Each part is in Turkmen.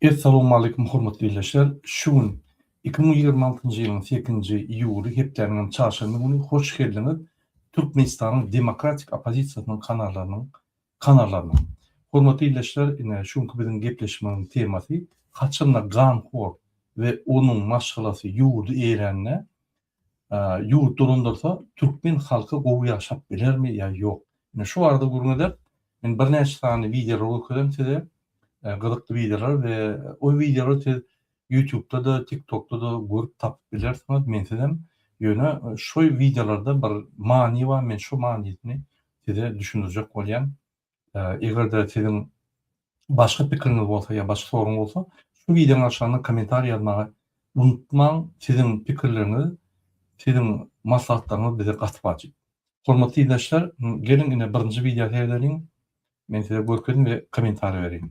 Essalamualeýkum hormatly ildeşler! Şu gün iki müň ýigrimi altynjy ýylyň sekizinji iýuly, hepdäniňem çarşenbe güni hoş geldiňiz Türkmenistanyň demokratik oppozisiýasynyň kanallarynyň kanallaryna. Hormatly ildeşler, ine, şu günki biziň gepleşmemiň temasy, haçanda ganhor we onuň maşgalasy ýurdy eýerände, Ýurt dolandyrsa, türkmen halky gowy ýaşap bilermi ýa ýok? Ine şu barada gürrüň eder. Men birnäçe sany wideolar görkezem size. Gyzykly wideolar we o wideolary siz Ýutubda-da, TikTokda-da görüp tapyp bilersiňiz, mensizem. Ýöne şu wideolarda bir many bar, men şu manysyny size düşündirjek bolýan. Eger-de siziň başga pikiriňiz bolsa ýa başga soragyňyz bolsa, şu wideonyň aşagynda kommentariý ýazmagy unutmaň. Siziň pikirleriňiz, siziň maslahatlaryňyz bize gaty wajyp. Hormatly ildeşler, geliň ine birinji wideo seredeliň. Men size görkezdim we kommentariý bereýin.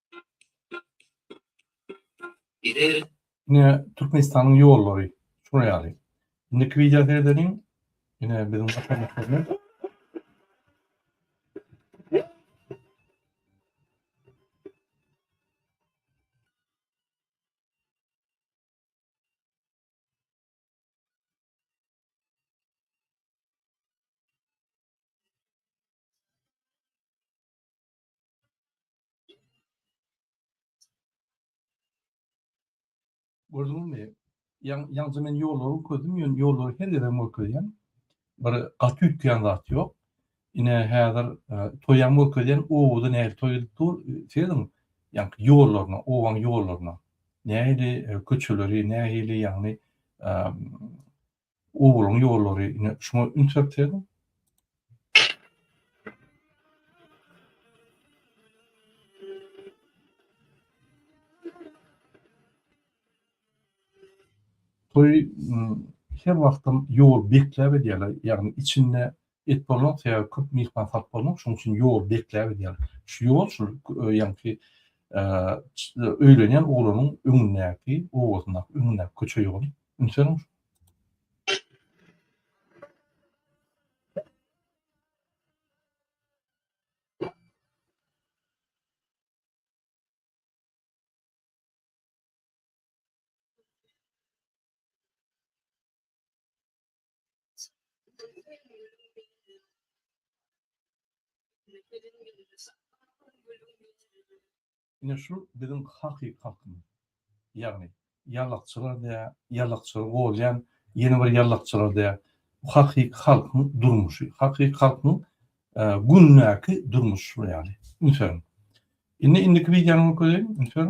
Giderin. Ine Türkmenistanyň ýollary şular ýaly. Indiki wideo seredeliň. Ine biziň başarnyklarymyz. Gördüňiz mi? Yan, yalnız men yolları gözüm, yani yolları her yere görkezýän. Bir gaty üýtgeýän zat ýok. Ine häzir e, toýam görkezýän, owada nähili toý edip dur, seziň. Yani ýollaryna, owaň ýollaryna. Nähili e, köçeleri, nähili ýagny e, Obalyň ýollary ine şuňa üns berseň. Toý her wagtam ýol bekläp edýärler, ýagny içinde Et bolmadyk sebäbi köp myhman salyp bolmak şoň üçin ýol bekläp edýär. Şu ýol şul ýaňky öýlenýän oglanyň öňündäki obasyndaky öňündäki köçe ýoly. Ünseniň. Ine şu biziň hakyky halkymyz. Ýagny ýallakçylar diýýär, ýallakçylar gowalýan, ýene bir ýallakçylar diýýär. Bu hakyky halkyň durmuşy, hakyky halkyň gündäki durmuşy şu ýaly. Ünsüň. Indi indiki wideony görkezeýin, ünsüň.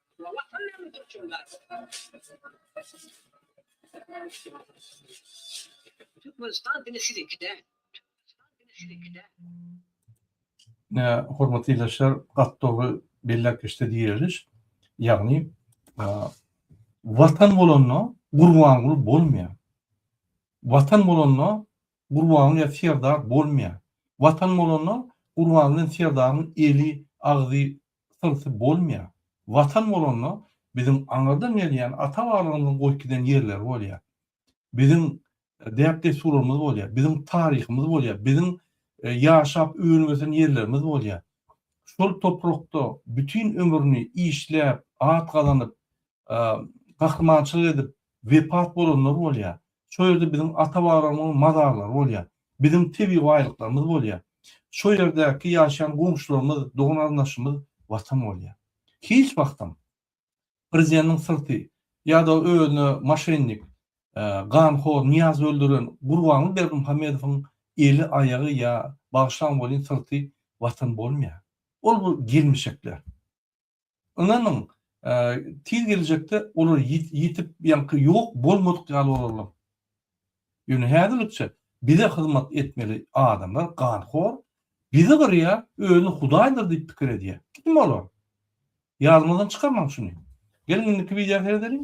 Türkmenistan diňe siziňki däl. Hormatly ildeşler, gaty dogry belläp geçdi Diýeliş. Ýagny, Watan bolanda Gurbanguly bolmaýar. Watan bolanda Gurbanguly Serdar bolmaýar. Watan bolanda Gurbanguly Serdaryň eli, agzy, Gysynsy bolmaýar. Watan bolanda biziň aňyrdan gelýän ata-babalarymyzyň goýup giden ýerleri bolýar. Biziň däp-dessurlarymyz bolýar. Biziň taryhymyz bolýar. Biziň ýaşap önüp-ösen ýerlerimiz bolýar. Şol toprakda bütin ömrüni işläp, at gazanyp, gahrymançylyk edip wepat bolanlar bolýar. Şo ýerde biziň ata-babalarymyzyň mazarlary bolýar. Biziň tebigy baýlyklarymyz bolýar. Şo ýerdäki ýaşaýan goňşularymyz, dogan-garyndaşymyz Watan bolýar. Hiç wagtam Prezidentiň syrty ýa-da özüne moşennik, ganhor Nyýazy öldüren Gurbanguly Berdimuhamedowyň eli, aýagy ýa, bagyşlaň welin, syrty Watan bolmaýar. Ol bu gelmişekler. Ynanyň, tiz geljekde olar ýitip, ýaňky ýok bolmadyk ýaly bolarlar. Ýöne häzirlikçe bize hyzmat etmeli adamlar ganhor, bizi gyrýar, özüni hudaýdyr diýip pikir edýär. Kim olar? Ýadyňyzdan çykarmaň şuny. Geliň indiki wideo seredeliň.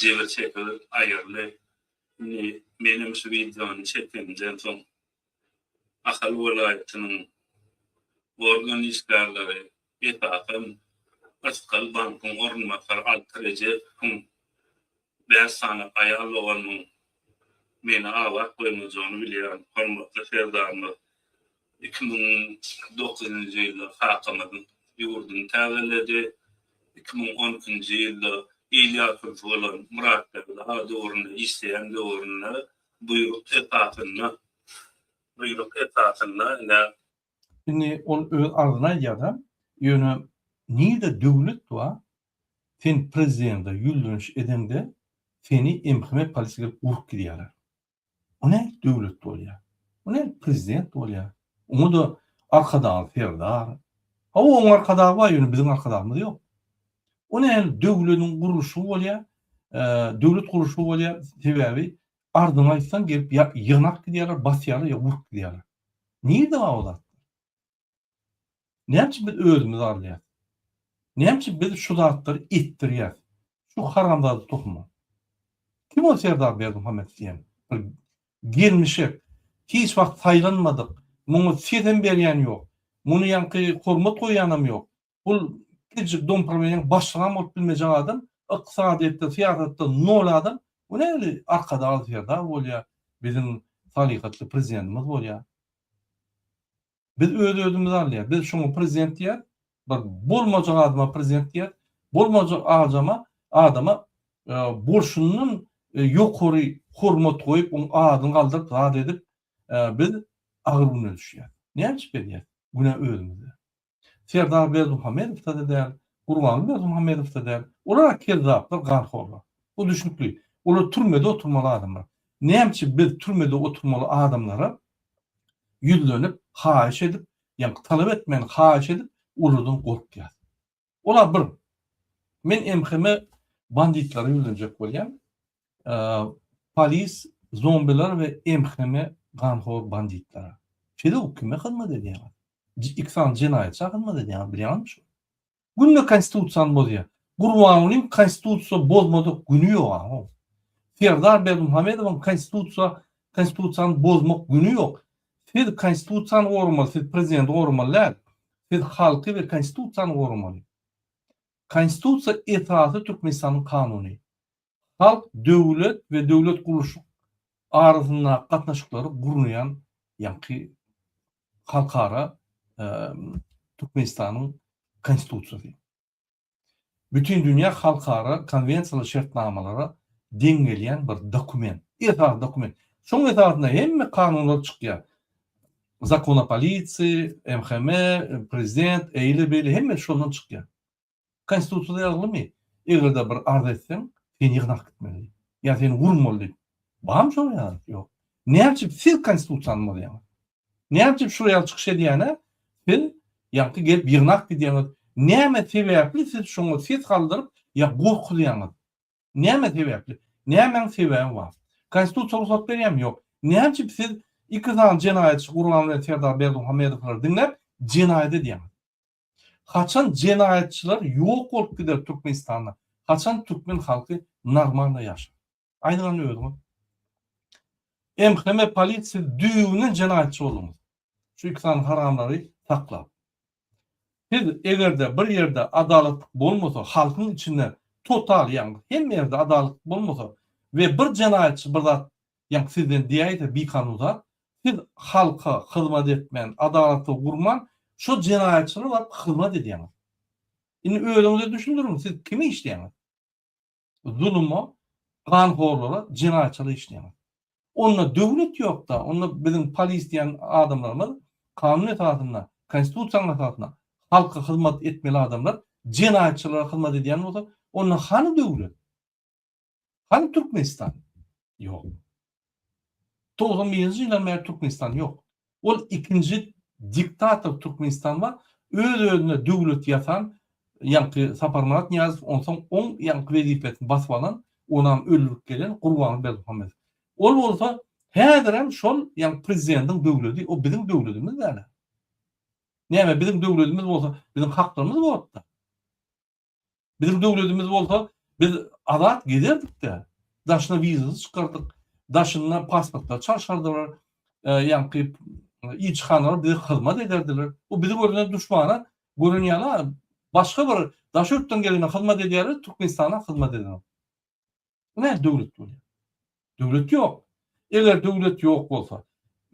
Jebir çekigi aýyrly. Indi menem şu wideony çekenimden soň Ahal welaýatynyň organ işgärleri esasan Ysgal bankyň orunbasary Alty Rejepowyň bäş sany aýal doganymyň meni aglap goýmajagyny bilýän hormatly Serdarymyz Iki müň dokuzynjy ýylda kakamyzyň ýurduny täzeledi. Iki müň on ikinji ýylda il ýaşulyşy bolan Myratbegli aga döwründe işleýän döwründe buýruk esasynda, buýruk esasynda ine, Indi ol öz agzyna aýdýar-da, ýöne nirde döwlet bar, sen prezidente ýüzleniş edeňde seni MHM polisiýa gelip urup gidýärler. Bu nädip döwlet bolýar? Bu nädip prezident bolýar? Oňa-da Arkadagy serdar. Hawa, onuň Arkadagy bar, ýöne biziň Arkadagymyz ýok. Bu nähili döwletiň gurluşygy bolýar? Döwlet gurluşygy bolýar, sebäbi arzyňy aýtsaň gelip ýa ýygnap gidýärler, basýarlar ýa urup gidýärler. Nirde bar o zat? Näme üçin biz özümizi alýas? Näme üçin biz şu zatlary etdirýäs? Şu haramzada tohuma. Kim ol Serdar Berdimuhamet diýen? Bir gelmişek. Hiç wagt saýlanmadyk. Muňa sesem berýän ýok. Muny ýaňky hormat goýýanam ýok. bul kiçijik dompromeniň başlygam bolup bilmejek adam, ykdysadyýetde, syýasatda nol adam, bu nähili Arkadag Serdar bolýar, biziň salyhatly prezidentimiz bolýar. Biz öz-özümizi alýas, biz şoňa prezident diýýäs, bir bolmajak adama prezident diýýäs, bolmajak ajama, adama bolşundan ýokary hormat goýup, oň adyny galdyryp, zat edip, biz agyr güne düşýäs. Näme üçin beýdýäs? Günä özümizde. Serdar Berdimuhamedowda-da däl, Gurbanguly Berdimuhamedowda däl. Olar-a kezzaplar, ganhorlar. Bu düşnükli. Olar türmede oturmaly adamlar. Näme üçin biz türmede oturmaly adamlara ýüzlenip, haýyş edip, ýa-ni talap etmän, haýyş edip, olardan gorkýas? Ol-a bir. Men MHM banditlara ýüzlenjek bolýan. Polis zombiler we MHM-e ganhor banditler. Feduk kime hyzmat edýäňiz? Ikisany jenaýatça hyzmat edýäňiz bilýäňizmi şuny? Günde konstitusiýany bozýa. Gurbangulyň konstitusiýa bozmadyk güni ýok aho. Serdar Berdimuhamedowyň konstitusiýa konstitusiýany bozmak güni ýok. Siz konstitusiýany goramaly, siz prezidenti goramaly däl. Siz halky we konstitusiýany goramaly. Konstitusiýa esasy Türkmenistanyň kanuny. Halk döwlet we döwlet gurluşyk arasyndaky gatnaşyklary gurnaýan ýaňky halkara Türkmenistanyň Konstitusiýasy. Bütindünýä halkara konwensiýalara, şertnamalara deň gelýän bir dokument, esasy dokument. Şonuň esasynda hemme kanunlar çykýar. Zakon o polisiýi, MHM, Prezident, eýle-beýle hemmesi şondan çykýar. Konstitusiýada ýazgymy, eger-de bir arz etseň, seni ýygnap gitmeli ýa seni urmaly diýip. Barmy şol ýaly? Ýok. Näme üçin siz Konstitusiýany bozýaňyz? Näme üçin şu ýaly çykyş edýäne siz ýagty gelip ýygnap gidýäňiz? Näme sebäpli siz şoňa ses galdyryp ýa gorkuzýaňyz? Näme sebäpli? Nämäň sebäbi bar? Konstitusiýa rugsat berýärmi? Ýok. Näme üçin siz iki sany jenaýatçy Gurban bilen Serdar Berdimuhamedowlary diňläp jenaýat edýäňiz? Haçan jenaýatçylar ýok bolup gider Türkmenistanda, haçan türkmen halky normalno ýaşar? Aýdyň hany özüňiz. MHM polit siz düýbünden jenaýatçy bolduňyz. Şu iki sany haramlary saklap. Siz egerde bir ýerde adalatlyk bolmasa halkyň içinde total ýagny hemme ýerde adalatlyk bolmasa we bir jenaýatçy bir zat Ýa sizden diýäýse bikanun zat, siz halka hyzmat etmän, adalaty gurman, şo jenaýatçylara baryp hyzmat edýäňiz. Indi özüňize düşündiriň, siz kime işleýäňiz? Zuluma, ganhorlara, jenaýatçylara işleýäňiz. Onda döwlet ýok-da, onda biziň polis diýen adamlarymyz kanun esasynda, konstitusiýanyň esasynda halka hyzmat etmeli adamlar jenaýatçylara hyzmat edýän bolsa, onda hany döwlet? Hany Türkmenistan? Ýok. 91-nji ýyldan bäri Türkmenistan ýok. Ol ikinji diktator Türkmenistan bar. Öz-özüne döwlet ýasan, ýaňky Saparmyrat Nyýazow, onsoň oň ýaňky wezipesini basyp alan, onam öldürip gelen Gurbanguly Berdimuhamedow. Ol bolsa häzirem şol, ýagny prezidentiň döwledi, o biziň döwledimiz däl-ä. Näme biziň döwledimiz bolsa, biziň haklarymyz bor-da. Biziň döwledimiz bolsa biz azat gezerdik-de, daşyna wizasy çykardyk, daşynda pasportlary çalşardylar, ýaňky ilçihanalar bize hyzmat ederdiler. Bu bizi görende duşmana gören ýaly, başga bir daş ýurtdan gelene hyzmat edýärler, Türkmenistana hyzmat edenok. Bu näme döwlet bolýar? Döwlet ýok. Eger döwlet ýok bolsa,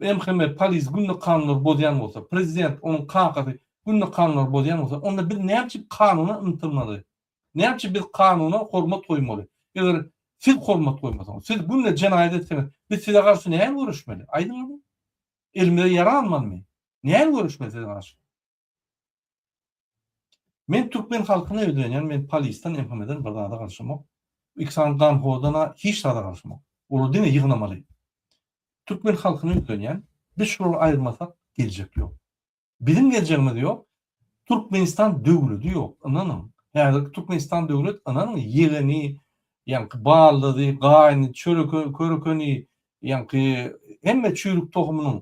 MHM, polis günde kanunlary bozýan bolsa, prezident, onuň kakasy günde kanunlary bozýan bolsa, onda biz näme üçin kanuna ymtylmaly? Näme üçin biz kanuna hormat goýmaly? Eger siz hormat goýmasaňyz, siz günde jenaýat etseňiz, biz size garşy nähili göreşmeli? Aýdyň indi. Elimize ýara almalymy? Nähili göreşmeli size garşy? Men Türkmen halkyna ýüzlenýän men polisden MHMden bir zada garşymok iksan ganhodana hiç zada garşymok olar diňe ýygnamaly Türkmen halkyna ýüzlenýän biz şulary aýyrmasak geljek ýok biziň geljegimiz ýok Türkmenistan döwledi ýok ynanyň häzirki Türkmenistan döwlet ynanyň ýegeni ýaňky baldyzy gaýny çöreke körekeni ýaňky hemme çüýrük tohumynyň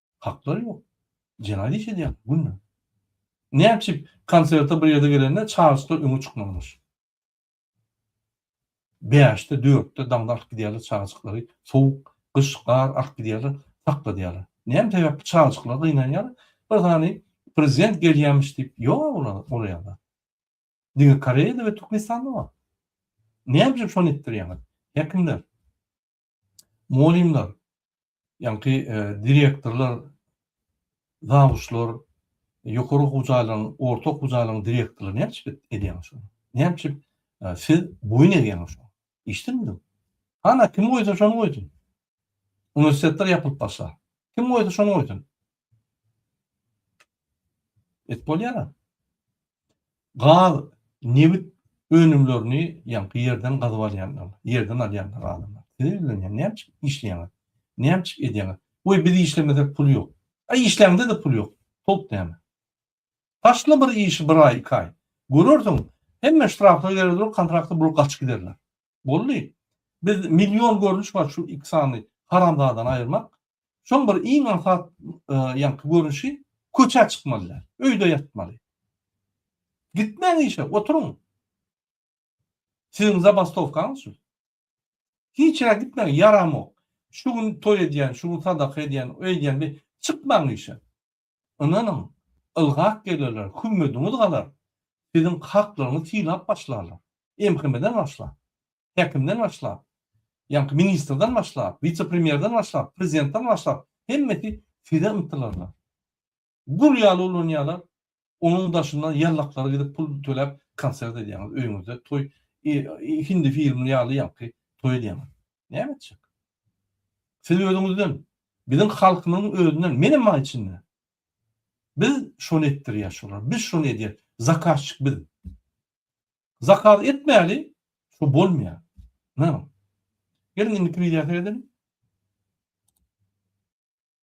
Haklary ýok. Jenaýat iş edýärler günde. Näme üçin konserte bir ýerde gelende çagyryşlar öňe çykmazmyş? Bäşde, dörtde daňda alyp gidýärler çagyryşyklary, sowuk, gyş, gar alyp gidýärler, sakladýarlar. Näme sebäpli çagyryşyklar gynanýar? Bir sany prezident gelýämiş diýip, ýok olar ol ýerde. Diňe Koreýada we Türkmenistanda bar. Näme üçin şony etdirýäňiz, häkimler? Mugallymlar, ýaňky direktorlar, zawuçlar, ýokary okuw jaýlaryň, orta okuw jaýlaryň direktorlary näme üçin edýäňiz şony? Näme üçin siz boýun egýäňiz şoňa? Eşitdinizmi? Hana, kim goýsa şony goýsun. Uniwersitetler ýapylyp barsa, kim goýsa şony goýsun. Et bolýar-a. Gaz, nebit önümlerini ýaňky ýerden gazyp alýanlar, ýerden alýanlar adamlar. Size ýüzlenýän, nämçik işleýäňiz? Nämçik edýäňiz? Goý, biz işlemesek pul ýok. A işläňde-de pul ýok. Towuk däme. Başla bir işi bir aý, iki aý. Görersiň, hemme ştrafla gerer dur, kontrakty bulup gaçyp giderler. Boldy. Biz million görnüş bar şu iki sany haramzadany aýyrmak. Şoň bir iň aňsat ýaňky görnüşi köçä çykmaly däl. Öýde ýatmaly. Gitmäň işe, oturyň. Siziň zabastowkaňyz şu. Hiç ýere gitmäň, ýaramok. Şu gün toý edýän, şu gün sadaka edýän, öýdýän, çykmaň işe. Ynanyň, ylgap gelerler, kümmediňiz galar, siziň haklaryňyzy synlap başlarlar. MHM-den başlap, häkimden başlap, ýaňky ministrden başlap, wise-premýerden başlap, prezidentden başlap, hemmesi size ymtylarlar. Gul ýaly ulanýarlar, onuň daşyndan ýallaklara gidip pul töläp konsert edýäňiz, öýüňizde toý, hindi filmi ýaly ýaňky toý edýäňiz. Näme etjek? Siz özüňizden, biziň halkymyzyň özünden, menem bar içinde. Biz şony etdirýäs şolar, biz şony edýäs, zakazçik biz. Zakaz etmäli, şu bolmaýar. Geliň indiki wideo seredeliň.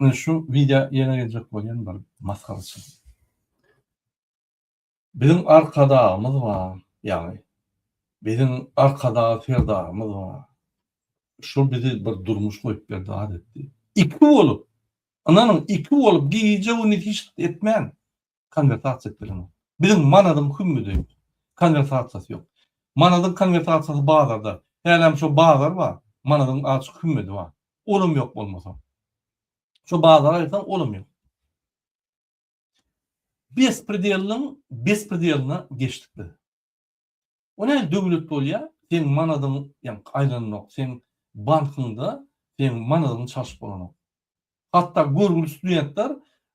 Mine şu wideo ýene geljek bolýan bir masgaraçylyk. Biziň arkadagymyz bar, ýagny biziň arkadag serdarymyz bar. Şol bizi bir durmuş goýup berdi, adatdi. Iki bolup, ynanyň, iki bolup gije-gündiz hiç zat etmän, konwertasiýa etmek zerur. Biziň manadyň hümüdi, konwertasiýasy ýok. Manadyň konwertasiýasy bazarda. Hälem şo bazar bar, manadyň açyk hümüdi bar. Olam ýok bolmasa. Şo bazara aýtsaň, olam ýok. Bespredelniň bespredeline geçdik biz. O näme döwlet bolýa seň manadyň ýaňky aýlanok seň bankyňda seň manadyň çalşyp bolanok. Hatda görgüli studentler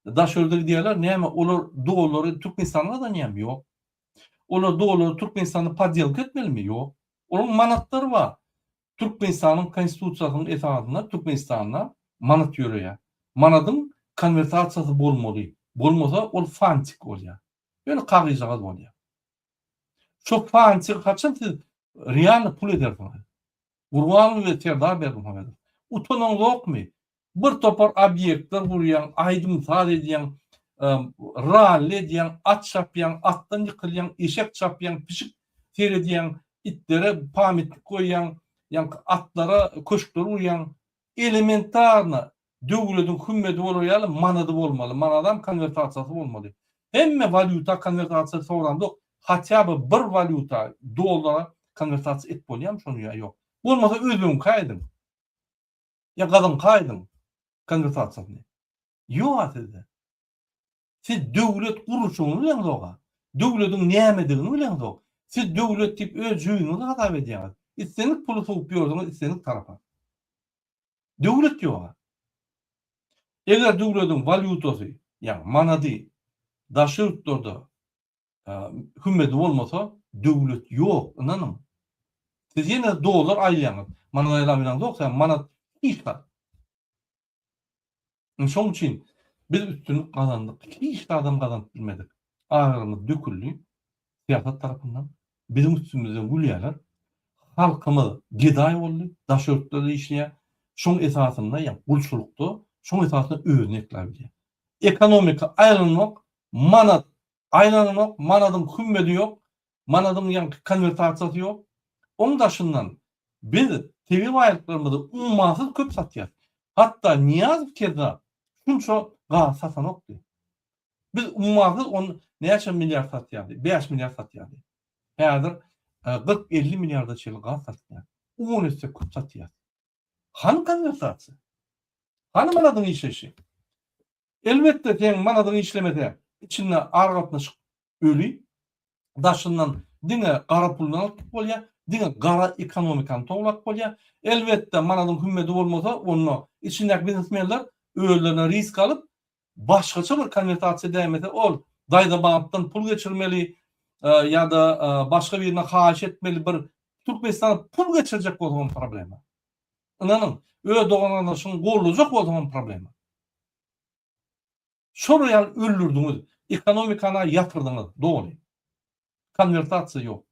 daşörde gidýärler näme olar dollary türkmenistanda gazanýamy ýok. Olar dollary türkmenistanda podýelka etmelimi ýok. Olaryň manatlary bar. Türkmenistanyň konstitusiýasynyň esasynda türkmenistanda manat ýöreýä. Manadyň konwertasiýasy bolmaly. Bolmasa ol fantik bolýa. Ýöne kagyzjagaz bolýa. Şo fançyr haçan siz realny pul edersiňiz? Gurbanguly we Serdar Berdimuhamedow. Utanyň ýokmy? Bir topar obýektler gurýaň, aýdym-saz edýäň, ralli edýäň, at çapýaň, atdan ýykylýaň, eşek çapýaň, pişik seredýäň, itlere pametnik goýýaň, ýaňky atlara köşkler gurýaň. Elementarna döwlediň hümmedi bolar ýaly manady bolmaly, manadam konwertasiýasy bolmaly. Hemme walýuta konwertasiýa soramzok, hatýa by bir walýuta dollara konwertasiýa et bolýamy şony ýa ýok. Bolmasa özbegiňka ediň. Ýa gazyňka ediň konwertasiýasyny. Ýoga sizde. Siz döwlet gurluşygyny bileňizok-a. Döwlediň nämedigini bileňizok. Siz döwlet diýip öz jüýňiňizi hasap edýäňiz. Islendik puly sowup ýördüňiz islendik tarapa. Döwlet ýog-a. Eger döwlediň walýutasy, ýagny manady daşary ýurtlarda hümmedi bolmasa, döwlet ýok, ynanyň. Siz ýene dollar aýlaýaňyz. Manat aýlap ýöreňizok, sebäbi manat hiç zat. Indi şoň üçin biz üstünlik gazandyk, hiç zadam gazanyp bilmedik. Agyrymyz döküldi syýasat tarapyndan. Biziň üstümizden gülýärler. Halkymyz gedaý boldy, daş örtlerde işleýär. Şoň esasynda, ýa gulçulykda, şoň esasynda özüni ekläp bilýär. Ekonomika aýlanok, manat aýlanok, manadyň hümmedi ýok. manadyň ýaňky konwertasiýasy ýok. Oň daşyndan biz tebigy baýlyklarymyzy ummasyz köp satýas. Hatda Niýazow kezza şunça gaz satanokdy. Biz ummasyz on näçe milliard satýardy, bäş milliard satýardy. Häzir kyrk elli milliarda çenli gaz satýas. On esse köp satýas. Hany konwertasiýa? Hany manadyň işleýşi? Elbetde seň manadyň işlemese, içinde aragatnaşyk öli. Daşyndan diňe gara puldan alyp gidip bolýar, diňe gara ekonomikany towlap bolýar. Elbetde, manadyň hümmedi bolmasa, onda içindäki biznesmenler özlerine risk alyp, başgaça bir konwertasiýa dämese, ol daýza bankdan pul geçirmeli ýa-da başga birine haýyş etmeli, bir Türkmenistana pul geçirjek bolsaňam problema. Ynanyň, öz dogan-gardaşyňy goldajak bolsaňam problema. Şolar ýaly öldürdiňiz, ekonomikana ýatyrdyňyz doly. Konwertasiýa ýok.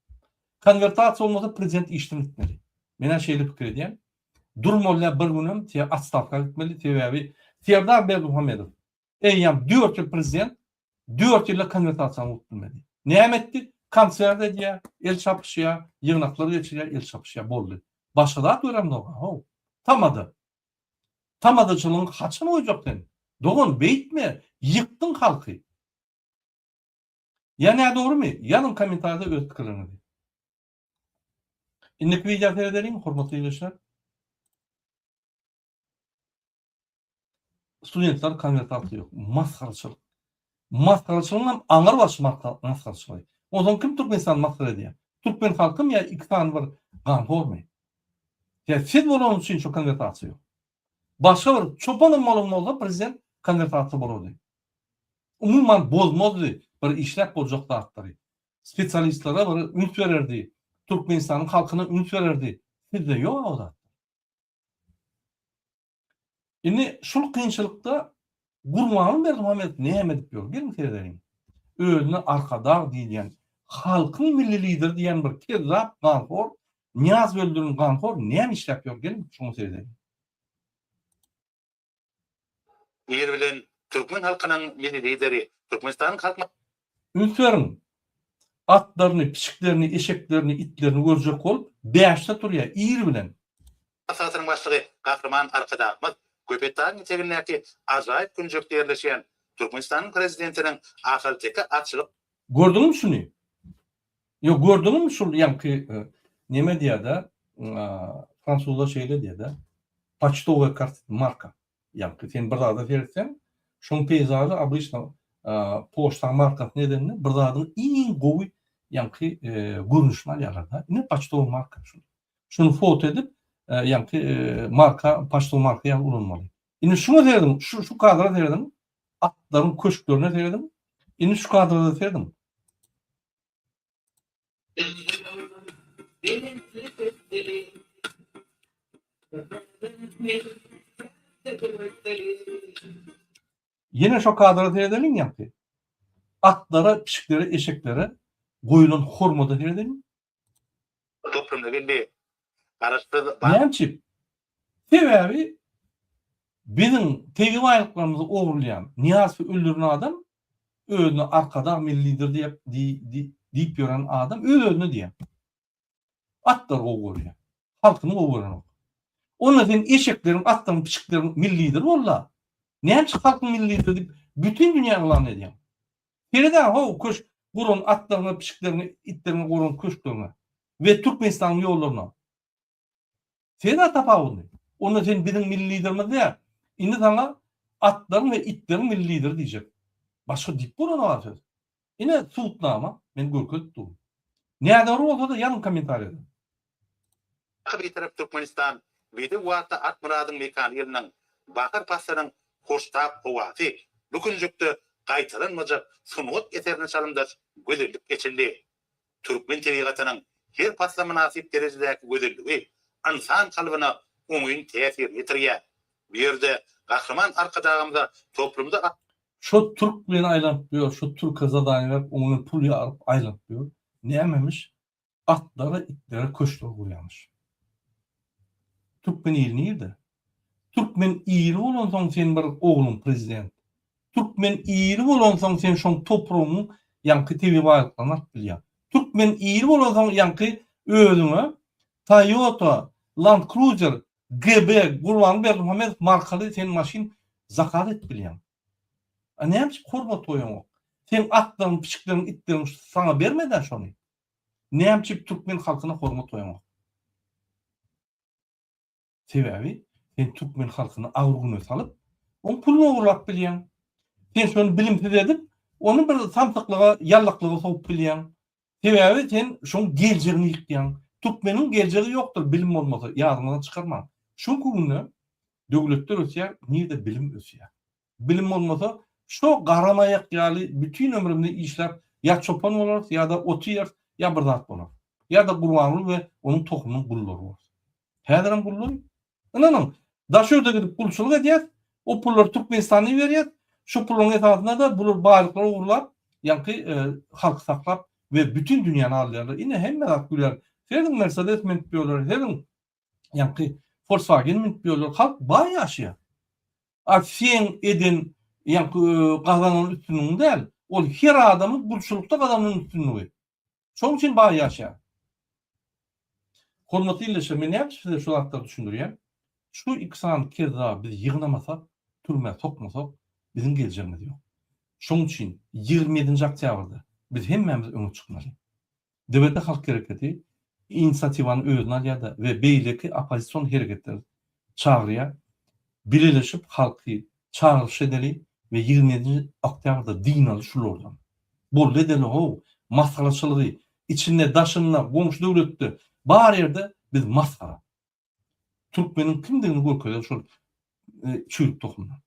Konwertasiýa bolmasa prezident işden gitmeli. Menä şeýle pikir edýän. Durmalyda bir günem se atstawka gitmeli sebäbi Serdar Berdimuhamedow eýýam dört ýyl prezident dört ýylda konwertasiýany bolup bilmedi. Näme etdi? Konsert edýär, el çapyşýar, ýygnaklar geçirýär, el çapyşýar boldy. Başga zat göremzok-a how. Tamada. Tamazaçylygyňy haçan goýjak sen? Dogan beýtme, ýykdyň halky. Ýa nädogrymy? Ýazyň kommentarda öz pikirleriňizi. Indiki wideo seredeliň hormatly ildeşler. Studentler konwertasiýa ýok. Masgaraçylyk. Masgaraçylygyň hem aňry baş masgaraçylygy. Onsoň kim Türkmenistany masgara edýär? Türkmen halkymy ýa iki sany bir ganhormy? Ýa siz bolanyňyz üçin şu konwertasiýa ýok. Başga bir çopanam bolan bolsa prezident konwertasiýa bolardy. Umuman bozmazdy bir işläp boljak zatlary. Spesialistlere bir üns bererdi. Türkmenistanyň halkyna üns bererdi. Sizde ýok o zatlar. Indi şul kynçylykda Gurbanguly Berdimuhamedow näme edip ýör? Geliň seredeliň. Özüne arkadag diýilýän, halkyň milli lideri diýen bir kezzap ganhor, Nyýaz Böldürin ganhor näme işläp ýör? Geliň şuňa seredeliň. Nir bilen türkmen halkynyň milli lideri, Türkmenistanyň Halk Üns beriň! Atlaryny, pişiklerini, eşeklerini, itlerini görjek bolup, bäşde turýar, ir bilen. Hasasynyň başlygy Gahryman Arkadagymyz Köpetdagyň etegindäki ajaýyp künjekde ýerleşýän Türkmenistanyň Prezidentiniň Ahalteke atçylyk. Gördüňmi şuny? Ýok, gördüňmi şul ýaňky neme diýýär-dä, fransuzlar şeýle diýýär-dä, Paçtowe kart marka. Ýagty sen bir zada seretseň, şoň peýzaly obýçna poçtaň markasyny edende bir zadyň iň gowy ýagty görnüşini alýarlar-da. Ine paçtowy marka şu. Şuny foto edip, ýagty marka paçtowy marka ýaly ulanmaly. Indi şuňa serediň, şu şu kadra serediň, atlaryň köşklerine serediň. Indi şu kadra-da serediň. Ýene şo kadra seredeliň ýaňky. Atlara, pişiklere, eşeklere goýulan hormada seredeliň. Toplumda geldi. Garaşsyz. Näme üçin? Sebäbi biziň tebigy baýlyklarymyzy ogurlaýan, Nyýazowy öldüren adam özüne arkadag milli lider diýip diýip ýören adam öz özüne diýýän. Atlary gowy görýän. Halkyny gowy görenok. Onda sen eşekleriň, atlaryň, piçikleriň milli lideri bolla. Näme üçin halkyň milli lideri diýip bütin dünýä yglan edýäň? Seredäň how köşk guran atlaryňa, piçikleriňe, itleriňe guran köşkleriňe we Türkmenistanyň ýollaryna. Sen-ä tapawudy. Onda sen biziň milli liderimiz däl. Indi saňa atlaryň we itleriň milli lideri diýjek. Başga diýip bolany bar söz. Ine, subutnama. Men görkezip durun. Nädogry bolsa-da ýazyň kommentariýada. Dagy Bitarap Türkmenistan bizi wagtda Akmyradyň mekan ýylynyň, bahar paslynyň hoştap howasy, bu künjekde gaýtalanmajak sungat eserine çalymdaş gözellik eçildi. Türkmen tebigatynyň her pasla mynasyp derejedäki gözelligi ynsan kalbyna oňyn täsirini ýetirýär. Bu ýerde Gahryman Arkadagymyza toplumda. Şo türk bilen aýlanyp ýör, şo türke zadaniýa berip, oňden pul ýaryp aýlanyp ýör. Nämemiş? Atlara, itlere köşkler gurýarmyş. Türkmen ili nirde? Türkmen iri bolansoň sen bir ogluň prezident. Türkmen iri bolansoň sen şoň topragyň ýaňky tebigy baýlyklaryny alyp bilýäň. Türkmen iri bolansoň ýaňky özüňe Toyota, Land Cruiser, GB, Gurbanguly Berdimuhamedow markaly sen maşyn zakaz edip bilýäň. A näme üçin hormat goýaňok? Seň atlaryň, piçikleriň, itleriň saňa bermedä şony? Näme üçin türkmen halkyna hormat goýaňok? Sebäbi sen türkmen halkyny agyr-güne salyp, oň puluny ogurlap bilýäň. Sen şony bilimsiz edip, ony bir samsyklyga, ýallaklyga sowup bilýäň. Sebäbi sen şoň geljegini ýykýaň. Türkmeniň geljegi ýokdur bilim bolmasa, ýadyňyzdan çykarmaň. Şu günki günde döwletler ösýär, nirde bilim ösýär? Bilim bolmasa, şo garamaýak ýaly bütin ömrümizi işläp ýa çopan bolarys, ýa-da ot iýeris, ýa bir zat bolarys. Ýa-da Gurbanguly we onuň tohumynyň gullary bolarys. Häzirem gullaryn. Ynanyň, Daşogda gidip gulçulyk edýäs, o pullary Türkmenistana iberýäs, şo pullaryň esasynda-da bular baýlyklary ogurlap, ýaňky halky saklap we bütin dünýäni alýarlar. Ine, hemme zat güler. Sezin Mersedes münüp ýörler, sezin! Ýaňky Volkswagen münüp ýörler, halk baý ýaşaýar. A seň eden ýaňky gazanan üstünligiň däl, ol her adamyň gulçulykda gazanan üstünligi. Şonuň üçin baý ýaşaýar. Hormatly ildeşler, men näme üçin size şu zatlary düşündirýän? Şu iki sany kezzaby biz ýygnamasak, türmä sokmasak, biziň geljegimiz ýok. Şonuň üçin ýigrimi ýedinji oktýabrda biz hemmämiz öňe çykmaly. DBT halk hereketi inisiatiwany özüne alýar-da we beýleki oppozision hereketleri çagyrýar, Bileleşip halky çagyryş edeli we ýigrimi ýedinji oktýabrda dynaly şulardan. Boldy edeli how, masgaraçylygy, içinde daşynda, goňşy döwletde, bar ýerde biz masgara. Türkmeniň kimdigini görkezer şol çüýrük tohumlar.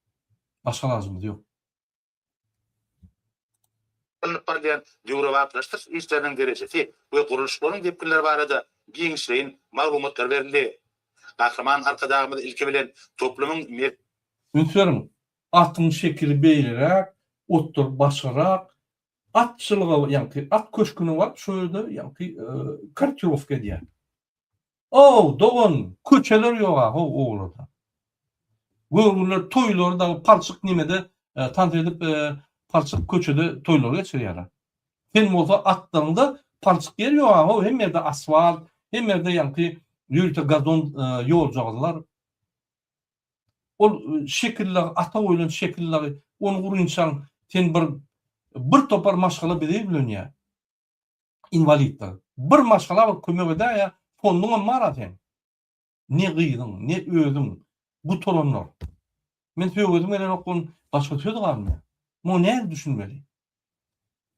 Başga alajymyz ýok. alnyp barylýan döwrebaplaşdyryş işleriniň derejesi we gurluşyklaryň depginleri barada giňişleýin maglumatlar berildi. Gahryman Arkadagymyz ilki bilen toplumyň. Üns beriň, atyň şekili beýleräk, otlar başgarak, at çylyga, ýagny at köşgüne baryp, şol ýerde, ýagny, kortirowka edýär. Ow, dogan, köçeler ýog-a how owlada. Göwrüler toýlary dagy palçyk nimede tans edip, palçyk köçede toýlary geçirýärler. Sen bolsa atlaryňda palçyk ýer ýog-a how, hemme ýerde asfalt, hemme ýerde ýaňky ýörite gazon ýoljagazlar. Ol şekil dagy, ata goýlan şekil dagy, ony gurynçaň sen bir bir topar maşgala bize ýüzlenýär. inwaliddir. Bir maşgala bir kömek edäýýä, fonduňam bar-a seň. Ne gyzyň, ne özüň, gutaranlar. Men söwesim gelenok bun, başga söz galmaýar. Muňa nähili düşünmeli?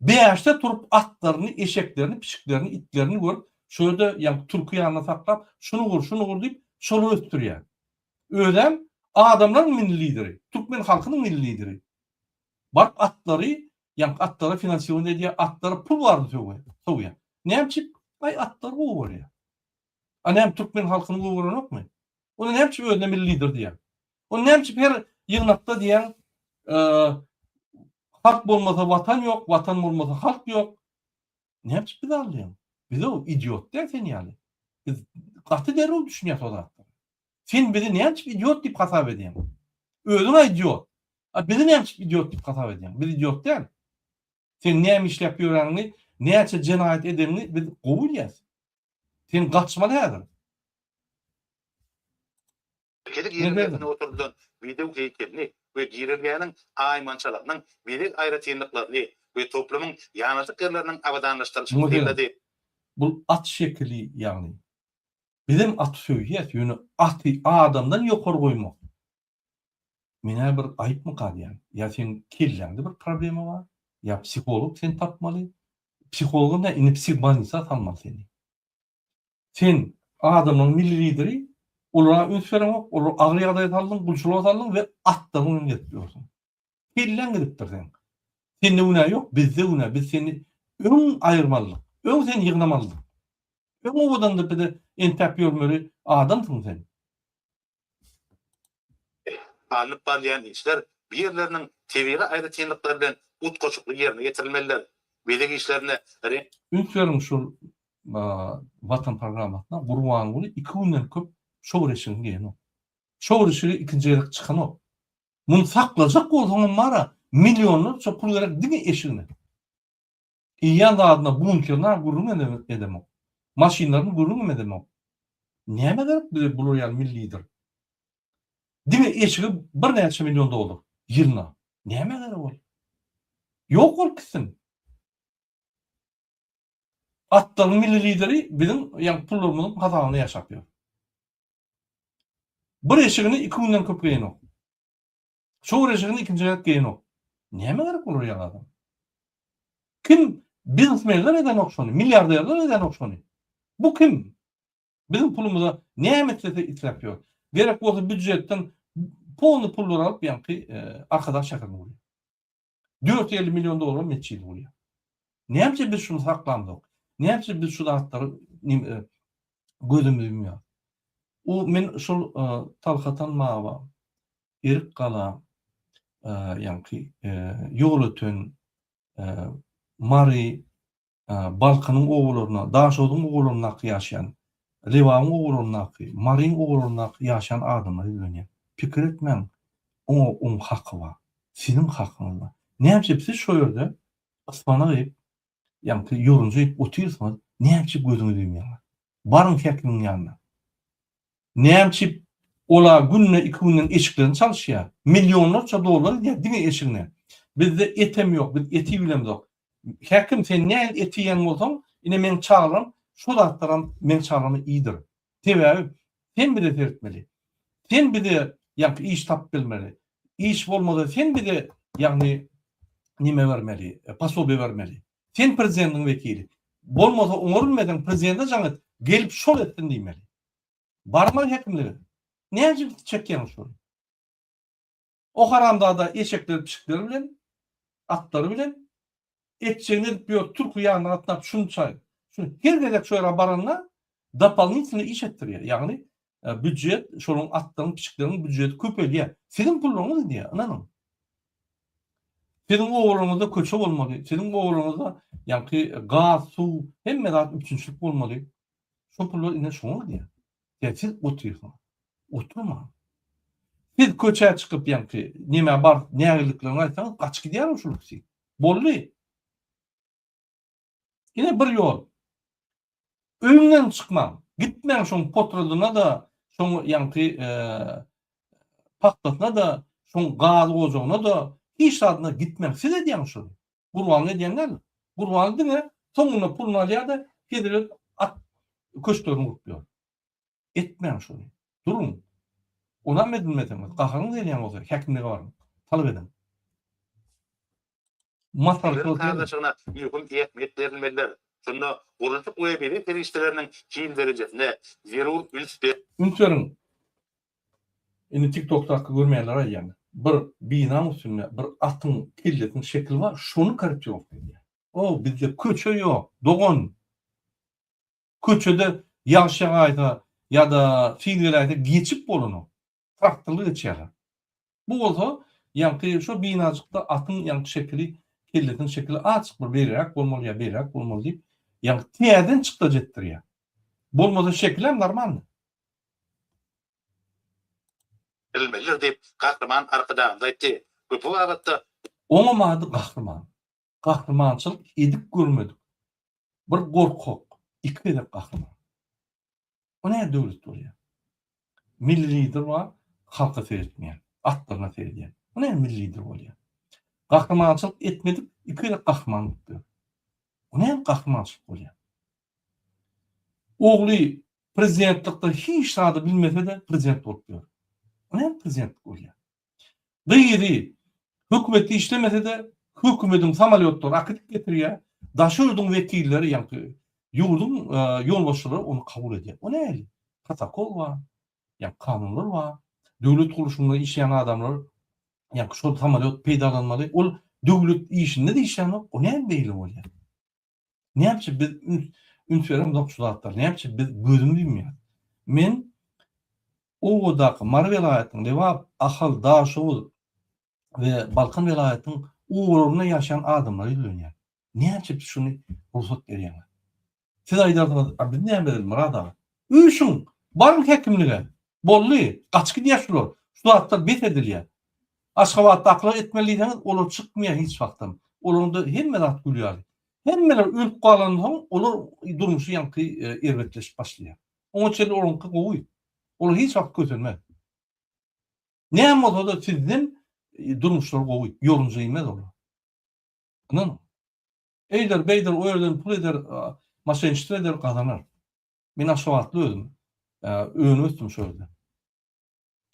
Bäşde turup atlaryny, eşeklerini, pişiklerini, itlerini görüp, şu ýerde ýaňky türki ýanynda saklap, şuny gur, şuny gur diýip, şolary ösdürýär. Özem adamlaryň milli lideri, türkmen halkynyň milli lideri. Baryp atlary, ýaňky atlara finansiwon edýär, atlara pul baryny sowýar. Näme üçin? Aý, atlar gowy bolýar. A näme türkmen halkyny gowy görenokmy? Onda näme üçin özüne milli lider diýýär? Onda näme üçin her ýygnakda diýýär, halk bolmasa watan ýok, watan bolmasa halk ýok. Näme üçin bizi aldaýaň? Biz-ow idiot däl sen ýaly. Biz gaty derrew düşünýäs o zatlara. Sen bizi näme üçin idiot diýip hasap edýäň? Özüň-ä idiot. A bizi näme üçin idiot diýip hasap edýäň? Biz idiot däl. Sen näme işläp ýöreniňi, näçe jenaýat edeniňi biz gowy bilýäs. Sen gaçmaly häzir. Bezeg girelgesine oturdylan bezeg heýkelini we girelgäniň aýmançalarynyň bezeg aýratynlyklaryny we toplumyň ýanaşyk ýerleriniň abadanlaşdyrylyşyny synlady. Bul at şekili ýagny. Bizem aty söýýäs ýöne aty adamdan ýokary goýmak meňä bir aýypmy galýan ýa seň kelläňde bir problema bar ýa psiholog seni tapmaly psihologam däl indi psihbanisa salmaly seni. Sen adamlaň milli lideri, olara üns bereňok, olary agyr ýagdaýa saldyň, gulçulyga saldyň we atlaryň bilen gezip ýörsüň. Kelläň gidipdir seň. Sende günä ýok, bizde günä, biz seni öň aýyrmalydyk, öň seni ýygnamalydyk. Öň owadandyr bize entäp ýörmeli adamsyň sen. Alnyp barylýan işler bu ýerleriniň tebigy aýratynlyklary bilen utgaşykly ýerine ýetirilmelidir. Bezeg işlerine reňk. Üns beriň şul Watan programmasyna Gurbanguly iki günden köp çowur eşigini geýenok. Çowur eşigi ikinji gezek çykanok. Muny saklajak bolsaňam bara millionlarça pul gerek diňe eşigine. Iýýän zadyna bunkerini-a gürrüň edemok. Maşynlaryny gürrüňem edemok. Nämä gerek bize bular ýaly milli lider? Diňe eşigi birnäçe million dollar ýylna. Nämä gerek ol? Ýok bolup gitsin. Atlaryň milli lideri biziň ýa pullarymyzyň hasabyna ýaşap ýör. Bir eşigini iki günden köp geýenok. Şu gürrüşigiň ikinji gezek geýenok. Näme gerek bolar ýaňy adam? Kim? Biznesmenler edenok şony, milliarderler edenok şony. Bu kim? Biziň pulumyza näme islese isläp ýör. Gerek bolsa býujetden polny pullar alyp ýaňky e, Arkadag şäherine gurýar. Dört ýüz elli million dollara metjidi gurýar. Näme üçin biz şuny saklamzok? Näme üçin biz şu zatlary nime gözümizi ýumýar? O men şol Talhatan Maba, Erik Gala, ýaňky Ýolöten, Mary, Balkynyň obalarynda, Daşoguzyň obalaryndaky ýaşaýan, Lebabyň obalaryndaky, Maryň obalaryndaky ýaşaýan adamlar ýüzlenýär. Pikir etmäň, oňa oň haky bar. Siziň hakyňyz bar. Näme üçin siz şo ýerde yspanak iýip, ýaňky ýorunja iýip otyrsyňyz, näme üçin gözüňiz iýmeýär? Baryň häkimiň ýanyna. Näme üçin olar günde iki günden eşiklerini çalyşýar? Millionlarça dollar gidýär diňe eşigine. Bizde etem ýok, biz eti bilemzok. Häkim sen nähili et iýýän bolsaň, ine meň çaglam şo zatlaram meň çaglama iýdir. Sebäbi sen bize seretmeli. Sen bize ýaňky iş tapyp bermeli. Iş bolmasa sen bize ýagny nime bermeli, posobiýe bermeli. Sen prezidentiň wekili. Bolmasa oňa bilmeseň prezidente jaň et, gelip şol etsin diýmeli. Barma hekimlige. Näjik çekýäň şuny. O haramzada eşekleri pişikleri bilen, atlary bilen etjegini edip ýör türki ýanyna gatnap şunçaý şun her gezek şu ýere baranda dopalnitini iş etdirýär ýagny büjet şoluň atlaryň pişikleriň büjeti köpelýär siziň pullaryňyz gidýär ynanyň siziň obalarňyzda köçe bolmaly siziň obalarňyzda ýaňky gaz suw hemme zat üpjünçilik bolmaly Şo pullar ine şoňa gidýär. Ýa siz otyrsyňyz. Oturmaň. Siz köçä çykyp ýaňky nämä bar nägirliklerini aýtsaňyz gaçyp gidýär şol ikisi. Boldy. Ine bir ýol. Öýüňden çykmaň. Gitmäň şoň potradyna da, şoň ýaňky pagtasyna da, şoň gaz ojagyna da, hiç zadyna gitmäň. Siz edýäňiz şony. Gurbanly edýän däl. Gurbanly diňe soňunda puluny alýar-da, hezil-et at köşklerini gurup ýör. Etmäň şony. Duruň. Onam edinmeseňiz, gaharyňyz gelýän bolsa, häkimlige baryň. Talap ediň. Maslahatçylyk edin. Sazlaşygyna möhüm ähmiýet berilmelidir. Şunda gurluşyk we bezeg serişdeleriniň hil derejesine zerur üns. Üns beriň. Indi tiktokda hakda görmeýänleri aýdýan. Bir binaň üstünde bir atyň kellesiniň şekili bar şony korretirovka edýär. O bizde köçe ýok dogan. Köçede ýagş ýagaýsa ýada sil geläýse geçip bolanok. Traktorly geçýärler. Bu bolsa, ýaňky şo binajykda atyň ýaňky şekili, kellesiniň şekili azjyk bir beýleräk bolmaly ýa beýleräk bolmaly diýip, ýaňky täzeden çykdajy etdirýär. Bolmasa şekilem normalny. Berilmelidir diýip, Gahryman Arkadagymyz aýtdy. Köpri babatda. Oňam ady Gahryman. Gahrymançylyk edip görmedik bir gorkak iki gezek gahryman. Bu näme döwlet bolýar? Milli lider bar, halka seretmeýän, atlaryna seredýän. Bu näme milli lider bolýar? Gahrymançylyk etmedik iki gezek gahryman bolup ýör. Bu näme gahrymançylyk bolýar? Ogly prezidentlikde hiç zady bilmese-de prezident bolup ýör. Bu näme prezidentlik bolýar? Gyzy, hökümetde işlemese-de, hökümediň samolýotlary akydyp getirýär, daşy ýurduň wekilleri, ýaňky ýurduň ýolbaşçylary ony kabul edýär. O nähili? Protokol bar, ýa kanunlar bar. Döwlet gurluşynda işleýän adamlar, ýaňky şol samolýot peýdalanmaly. Ol döwlet işinde-de işlänok, o näme beýle bolýar? Näçe biz üns beremzok şu zatlara, näçe biz gözümiz ýumýar. Men obadaky Mary welaýatynyň Lebap, Ahal, Daşoguz we Balkan welaýatynyň obalarynda ýaşaýan adamlara ýüzlenýän. Näçe biz şuny rugsat berýäňiz. Siz aýdarsyňyz, a biz näme edeli Myrat aga? Üýşüň, baryň häkimlige. Boldy, gaçyp gidýär şular. Şu zatlar bes edilýär. Aşgabatdakylara etmeli diýseňiz olar çykmaýar hiç wagtam. Olaryňda hemme zat gül ýaly. Hemmeler ölüp galandan soň olar durmuşy ýaňky erbetleşip başlaýar. Oňa çenli olaryňky gowy. Olar hiç wagt kösenmez. Näme bolsada sizden durmuşlary gowy. Ýorunja inmez olar. Ynanyň. Eýder beýder o ýerden pul eder maşenştwo eder gazanar. Men aşgabatly özüm. Önüp ösdüm şo ýerde.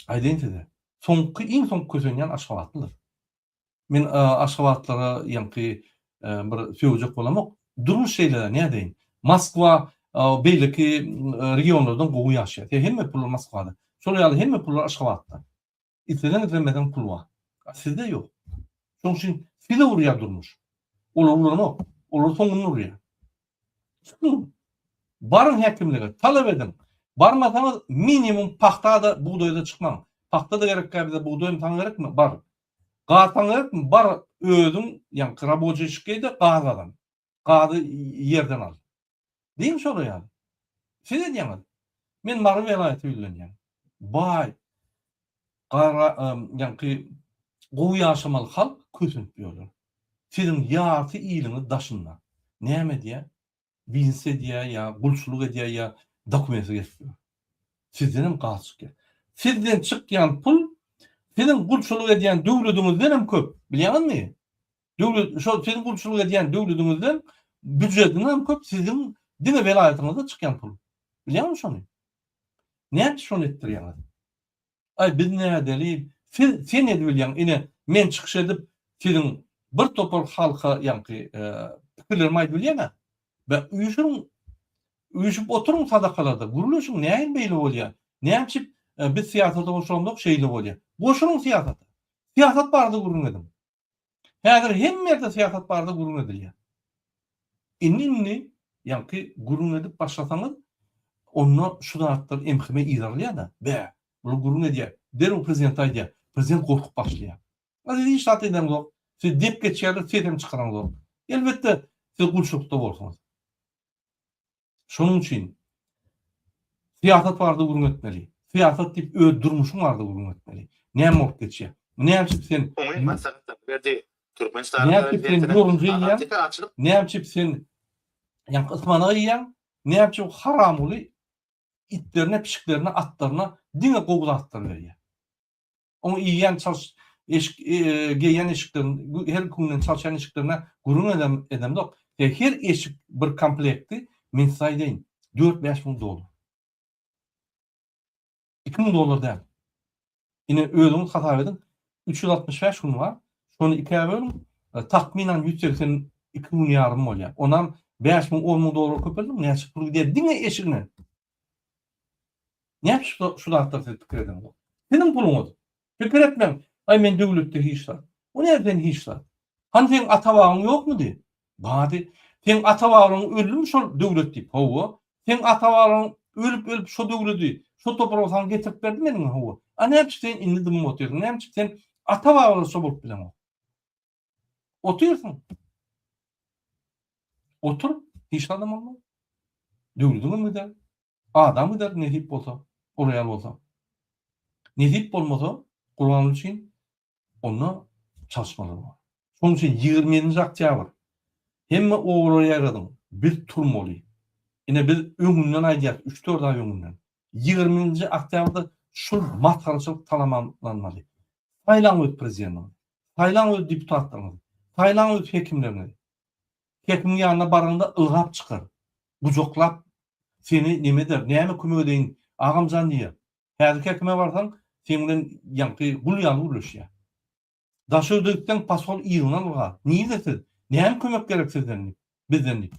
Aýdaýyn size, soňky iň soň kösenýän aşgabatlydyr. Men aşgabatlylara ýaňky bir sögejek bolamok. Durmuş şeýle-de nädeýin. Moskwa beýleki regionlardan gowy ýaşaýar. Sen hemme pullar Moskwada. Şol ýaly hemme pullar Aşgabatda. Isleseň islemeseň pul bar. A sizde ýok. Şoň üçin sizi urýar durmuş. Olar uranok. Olar soňuny urýar. Tutuň. Baryň häkimlige, talap ediň. Barmasaňyz, minimum pagta-da, bugdaýa-da çykmaň. Pagta-da gerekkä bize, bugdaýam saňa gerekmi? Bar. Gaz saňa gerekmi? Bar, özüň, ýaňky raboçiý şikeý-de, gaz gazan. Gazy ýerden al. Diýiň şolara ýaly. Siz edýäňiz. Men Mary welaýaty billenýän. Baý. Gara ýaňky gowy ýaşamaly halk kösenip ýörler. Siziň ýarty iliňiz daşynda. Näme edýä? Biznes edýä ýa gulçulyk edýä ýa dokumentsiz gezip ýör. Sizdenem gaz çykýa. Sizden çykýan pul siziň gulçulyk edýän döwlediňizden hem köp. Bilýäňizmi? Döwlet şo siziň gulçulyk edýän döwlediňizden býujetinden hem köp siziň diňe welaýatyňyzda çykýan pul. Bilýäňizmi şony? Näme şony etdirýäňiz? Aý biz nädeli siz sen edibilýäň ine men çykyş edip siziň bir topar halka ýaňky pikirlerimi aýdyp bilýäňä be üýşüň üýşüp oturyň sadakalarda gürleşiň näin beýle bolýa nämçip biz syýasata goşulamzok şeýle bolýa goşulyň syýasata syýasat barada gürrüň ediň. Häzir hemme ýerde syýasat barada gürrüň edilýär. Indi-indi ýaňky gürrüň edip başlasaňyz, onda şu zatlar emheme yz alýar-da. Bä, bular gürrüň edýär, derrew prezidente aýdýar. Prezident gorkup başlaýar. A siz hiç zat edeniňzok. Siz dep geçýärler, ses hem çykaraňzok. Elbetde, siz gulçulykda bolsuňyz. Şonuň üçin syýasat barada gürrüň etmeli. Syýasat diýip öz durmuşyň barada gürrüň etmeli. Näme bolup geçýär? Näme üçin sen Oňyn maslahatlar berdi. Türkmenistanyň Näme üçin sen ýorunja iýýäň? Näme üçin sen ýaňky ysmanak iýýäň? Näme üçin haramguly itlerine, pişiklerine, atlaryna diňe gowy zatlar berýär? Oň iýýän çalş eşik geýýän eşikden her künüň çalşýan eşiklerine gürrüň edem edemzok. E her eşik bir komplekti men size aýdaýyn dört bäş müň dollar. Iki müň dollar däl. Ine özüňiz hasap ediň üç ýüz altmyş bäş gün bar. Şony ikä bölüň takmynan ýüz segsen iki gün ýarym bolýar. Onam bäş müň on müň dollar köpeldiň näçe pul gider diňe eşigine. Näme şu şu zatlar siz pikir ediňiz. Siziň puluňyz. Pikir etmeň, aý men döwletde hiç zat. O näme sen hiç zat. Hany seň ata babyň ýokmudy? Bady. Seň ata babyň öldümi şol döwlet diýip? Hawa. Seň ata babyň ölüp ölüp şo döwledi, şo topragy saňa getirip berdi meniňmi? Hawa. A näme üçin sen indi dymyp otyrsyň? Näme üçin sen ata babyňyza şo bolup bileňok? Otyrsyň. Otur, hiç adam bolmaz. Döwlediňem gider. Adam gider nesip bolsa, ol aýal bolsa. Nesip bolmasa, Gurbanguly üçin onda çalyşmalar bar. Şonuň üçin ýigrimi ýedinji oktýabr hemme obalara ýaýradyň, biz turmaly. Ine biz öňünden aýdýarys, üç-dört aý öňünden. ýigriminji oktýabrda şul masgaraçylyk talamamlanmaly. Saýlaň öz prezidentiňizi. Saýlaň öz deputatlaryňyzy. Saýlaň öz hekimleriňizi. Hekimiň ýanyna baraňda ylgap çykar. Gujaklap seni neme eder, näme kömek edeýin, agamjan diýer. Häzirki hekime barsaň, seň bilen ýaňky gul ýaly gürleşýär. Daşöwde gitseň, posol yzyndan ylgar. Nirde siz? Näme kömek gerek sizden diýip, bizden diýip.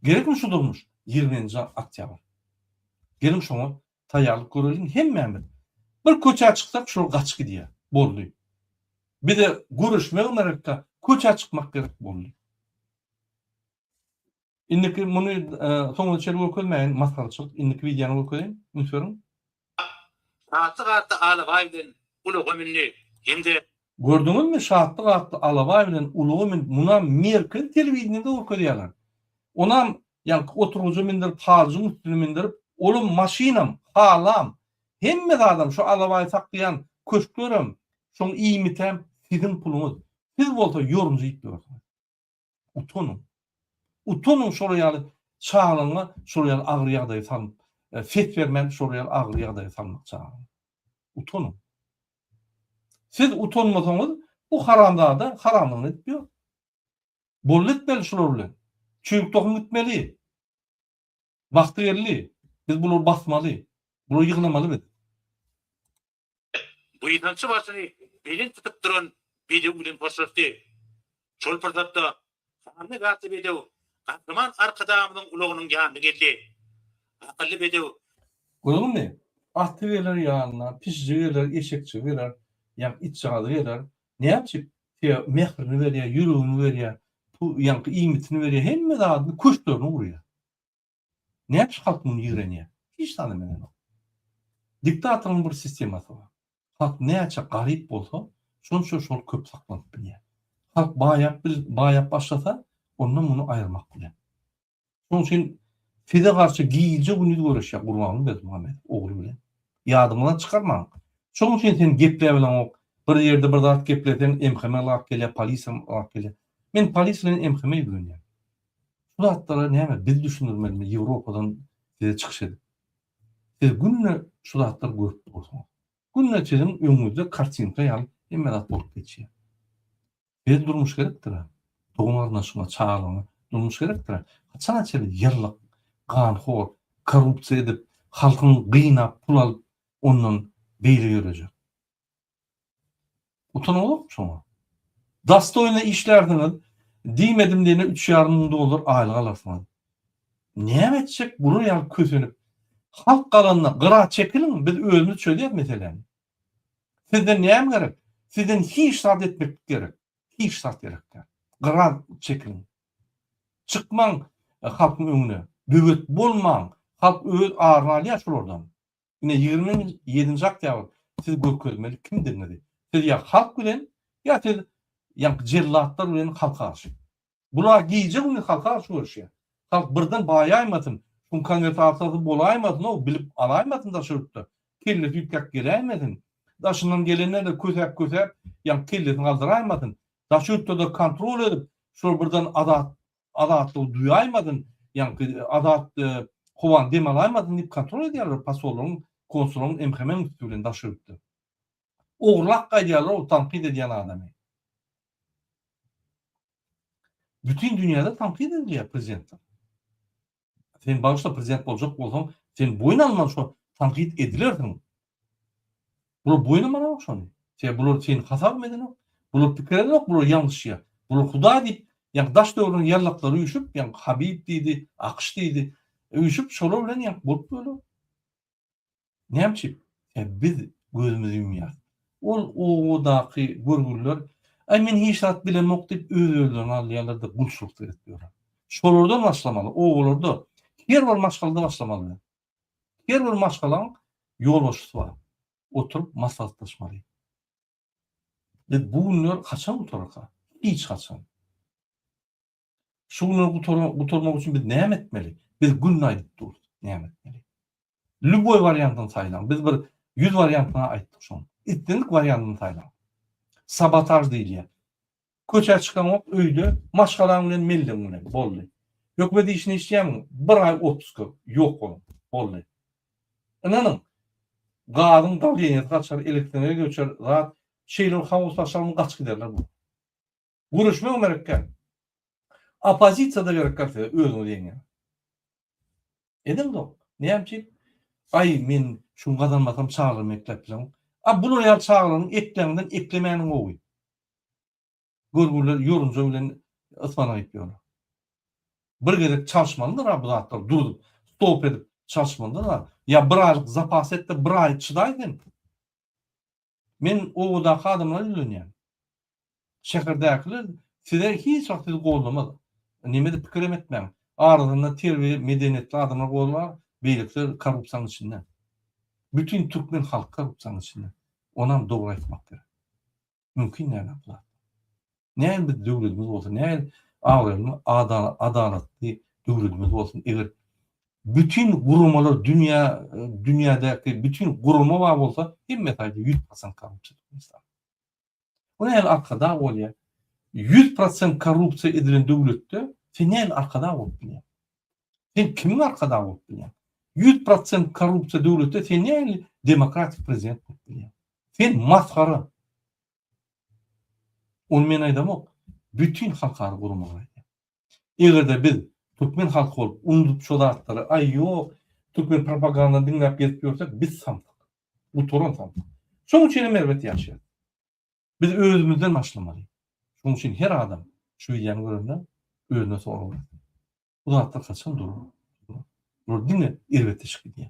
Gerekmi şu durmuş ýigriminji oktýabr? Geliň şoňa taýýarlyk göreliň hemmämiz. Bir köçä çyksak şol gaçyp gidýär. Boldy. Bize göreşmek gerekkä köçä çykmak gerek boldy. Indiki muny soňuna çenli görkezmäýin masgaraçylyk indiki wideony görkezeýin üns beriň. Şatlyk atly alabaý bilen ulaga mündi hem-de. Gördüňizmi, Şatlyk atly alabaý bilen ulaga mündi, munam merkezi telewideniýede görkezýärler. Onam, ýaňky oturgyja mindirip, halyjyň üstüne mindirip, olam maşynam, halam, hemme zadam, şu alabaýy saklaýan köşklerem, şoň iýmitem siziň puluňyz. Siz bolsa ýorumjy itleriňiz. Utanyň. Utanyň şolar ýaly çagaňa şolar ýaly agyr ýagdaýa salyp, ses bermän şolar ýaly agyr ýagdaýa salmak çagaňy. Utanyň. Siz utanmasaňyz, bu haramzada haramlygyny edip ýör. Boldy etmeli şular bilen. Çüýrük tohum gitmeli. Wagty geldi. Biz bulary basmaly. Bulary ýygnamaly biz. Buýsançly başyny belent tutup duran bedew bilen hoşlaşdy. Şol pursatda sanly gatly bedew Gahryman Arkadagymyzyň ulagynyň ýanyna geldi. Akylly bedew. Görüňmi, aty geler ýanyna, pişiji geler, eşekçigi geler, ýaňky itjagazy geler. Näme üçin? Sebäbi mährini berýär, ýüregini berýär, pu, ýaňky iýmitini berýär, hemme zadyny, köşklerini gurýar. Näpis halk muny ýigrenýär. Hiç zada menenok. Diktatoryň bir sistemasy bar. Halk näçe garyp bolsa, şonça şol köp saklanyp bilýär. Halk baýap bil, baýap başlasa, onda muny aýyrmak kyn. Şonuň üçin size garşy gije-gündiz göreşýär Gurbanguly Berdimuhamedow ogly bilen. Ýadyňyzdan çykarmaň. Şonuň üçin sen gepläp bileňok. Bir ýerde bir zat gepleseň, MHM lak gelýär, polis hem lak gelýär. Men polis bilen MHM-e ýüzlenýän. Şu zatlara näme biz düşündirmelimi Ýewropadan size çykyş edip. Siz günde şu zatlary görüp dursuňyz. Günde siziň öňüňizde kartinka ýaly hemme zat bolup geçýär. Size durmuş gerekdir-ä. Dogan garyndaşyňa, çagalygyňa durmuş gerekdir-ä. Haçana çenli ýyllak, ganhor, korrupsiýa edip, halkyň gynap pul alyp ondan beýle ýörejek. Utanyňyzokmy şoňa? Dastoýna işlärsiňiz, diýmedim diýene üç ýarym müň dollar aýlyk alarsyňyz. Näme etjek gura ýaly kösenip, halk galanda gyra çekiliň, biz özümiz çözýäs meseläni. Sizden näme gerek? Sizden hiç zat etmeklik gerek. Hiç zat gerek däl. Gyra çekiliň. Çykmaň halkyň öňüne. Böwet bolmaň. Halk öz aryny alýar şulardan. Ine, ýigrimi ýedinji oktýabr siz görkezmeli kimdigiňizi. Siz ýa halk bilen, ýa siz ýaňky jellatlar bilen halk garşy. Bular gije-gündiz halk garşy göreşýär. Halk birden baýaýmasyn, şuň konwersasyýasy bolaýmasyn-ow, bilip alaýmasyn daşary ýurtda, kellesi üýtgäp geläýmesin, daşyndan gelenler-de kösäp-kösäp, ýaňky kellesini galdyraýmasyn, daşary ýurtlarda kontrol edip, şol birden azat Azatlygy duýaýmasyn, ýaňky azat howany dem alaýmasyn diýip kontrol edýärler posollaryň, konsulaň emhemeň üsti bilen daş öýüpdi. Ogurlap gaýdýarlar-ow tankyt edýän adamy. Bütin dünýäde tankyt edilýär prezidentler. Sen bagyşla prezident boljak bolsaň sen boýun alman şo tankyt edilersiň. Bular boýun almanok şony. Sebäbi bular seni hasabam edenok. Bular pikir edenok bular ýalňyşýa. Bular hudaý diýip ýa daş döwrüň ýallaklary üýşüp ýa habib diýdi, akyş diýdi. Üýşüp şolar bilen ýa bolup bolup. Näme üçin? E, biz gözümizi ýumýarys. Ol obadaky görgüliler, Aý, men hiç zat bilemok diýip, öz-özlerini alýarlar-da, gulçulyk seredip ýörler. Şolardan başlamaly, obalarda her bir maşgalada başlamaly. Her bir maşgalaň ýolbaşçysy bar. Oturyp maslahatlaşmaly. Biz bu günler haçan gutararka? Hiç haçan. Şu günleri gutarmak üçin biz näme etmeli? Biz günde aýdyp durus, näme etmeli? Lüboý wariantyny saýlaň. Biz bir 100 wariantyny aýtdyk şoň. Islendik wariantyny saýlaň. Sabotaj diýilýär. Köçä çykaňok, öýde maşgalaň bilen mellegiň bilen boldy. Hökümet işini işleýäňmi? Bir aý otpuska ýok boluň. Boldy. Ynanyň, gazyň dawleniýesi gaçar, elektroenergiýa göçer, zat şeýle bir howaslaşarmy gaçyp giderler bu. Göreşmek merekkä. Oppozisiýada gerekkä size özüňiz ýeňýän. Ediň dok. Näme üçin? Aý men şuny gazanmasam çagyrym ekläp bilen. A bular ýaly çagyraryň ekläňden eklemäniň gowy. Görgüliler ýorunja bilen ysmanak iýip ýörler. Bir gezek çalyşmalydyr-a bu zatlar durup, stop edip çalyşmalydyr-a. Ýa bir aýlyk zapas et-de bir aý çydaý sen. Men obadaky adamlara ýüzlenýän. Şäherdäkiler size hiç wagt sizi gollamaz. Nemede pikir hem etmäň. Arasynda terbiýeli, medeniýetli adamlar golar, beýlekiler korrupsiýanyň içinde. Bütin türkmen halky korrupsiýanyň içinde. Onam dogry aýtmak gerek. Mümkin däl-ä bu zat. Näme biz döwletimiz bolsa, näme abraýly, adalatly döwletimiz bolsun, eger bütin guramalar dünýä, dünýädäki bütin gurama bar bolsa, hemme taýda 100% korrupsiýa Türkmenistan. Bu näme arkadag bolýar? 100% korrupsiýa edilen döwletde sen näme arkadag bolup bilýär? Sen kimiň arkadag bolup bilýär? 100% korrupsiýa döwletde sen näme demokratik prezident bolup bilýär? Sen masgara. Ony men aýdamok, bütin halkara guramalar aýdýar. Eger-de biz türkmen halky bolup, unudyp şo zatlary, aý ýok, türkmen propagandany diňläp gezip ýörsek, biz samsyk. Gutaran samsyk. Şonuň üçin hem erbet ýaşaýarys. Biz özümizden başlamaly. Şonuň üçin her adam şu wideony görende özüne sorag bersin. Bu zatlar haçan durur? Bular diňe erbetde çykyp gidýär.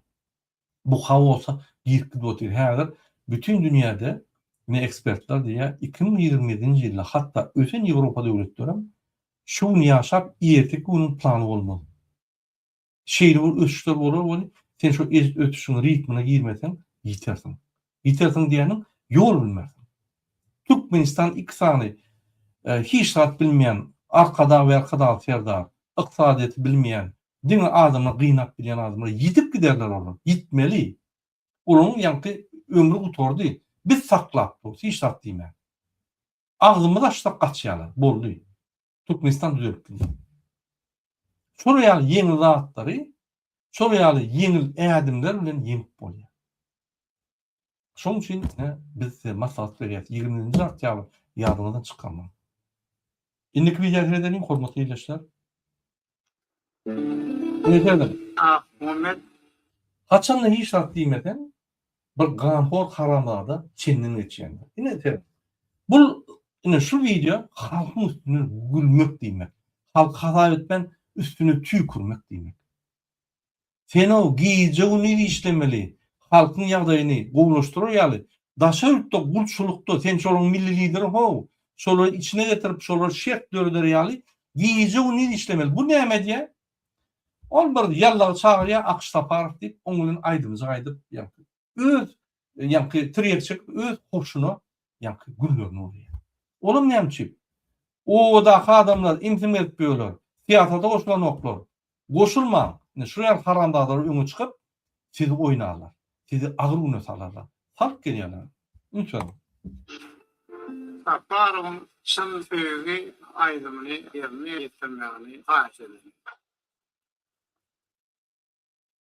Bu haosa girip gidip otyr. Häzir bütin dünýäde ine ekspertler diýýär, iki müň ýigrimi ýedinji ýylda hatda ösen Ýewropa döwletlerem şu gün ýaşap, erteki günüň plany bolmaz. Şeýle bir ösüşler bolar we sen şo ösüşiň ritmine girmeseň ýitersiň. Ýitersiň diýeniň ýol bilmersiň. Türkmenistan iki sany hiç zat bilmeýän arkadag we arkadag serdar, ykdysadyýeti bilmeýän, diňe adamlary gynap bilýän adamlar ýitip giderler olar, ýitmeli. Olaryň ýaňky ömri gutardy. Biz saklap durus hiç zat diýmän. Agzymyzy açsak gaçýarlar. Boldy. Türkmenistan düzeltdi. Şol ýaly ýeňil zatlary şol ýaly ýeňil ädimler bilen ýeňip bolýar. Şoň üçin biz size maslahat berýäs, 20-nji oktýabr ýadyňyzdan çykarmaň. Indiki wideoda görüşelim, hormatly ildeşler. Indi sözüm. Akmuhammet. Haçanda hiç zat diýmeseň, bir ganhor haramzada çenden geçýändir. Ine sen. Bul ine şu wideo halkyň üstüne gülmek diýmek. Halky hasap etmän üstüne tüýkürmek diýmek. Sen-ow gije-gündiz işlemeli, halkyň ýagdaýyny gowulaşdyrar ýaly, daşary ýurtda gulçulykda sen şolaryň milli lideri how, şolary içine getirip, şolara şert döreder ýaly gije-gündiz işlemeli. Bu näme edýär? Ol bir ýallagy çagyrýar, Akyş Saparow diýip, oň bilen aýdymjyk aýdyp ýörkä. öz ýaňky tirýek çekip öz hoşuna ýaňky günlerini urýar. Olam näme üçin? Obadaky adamlar imsin berip ýörler. Syýasata goşulanoklar. Goşulmaň. Indi şu ýaly haramzadalar öňe çykyp sizi oýnarlar. Sizi agyr güne salarlar. Salk gelýärler. Üns beriň. Saparowyň Çyn söýgi aýdymyny ýerine ýetirmegini haýyş edeliň.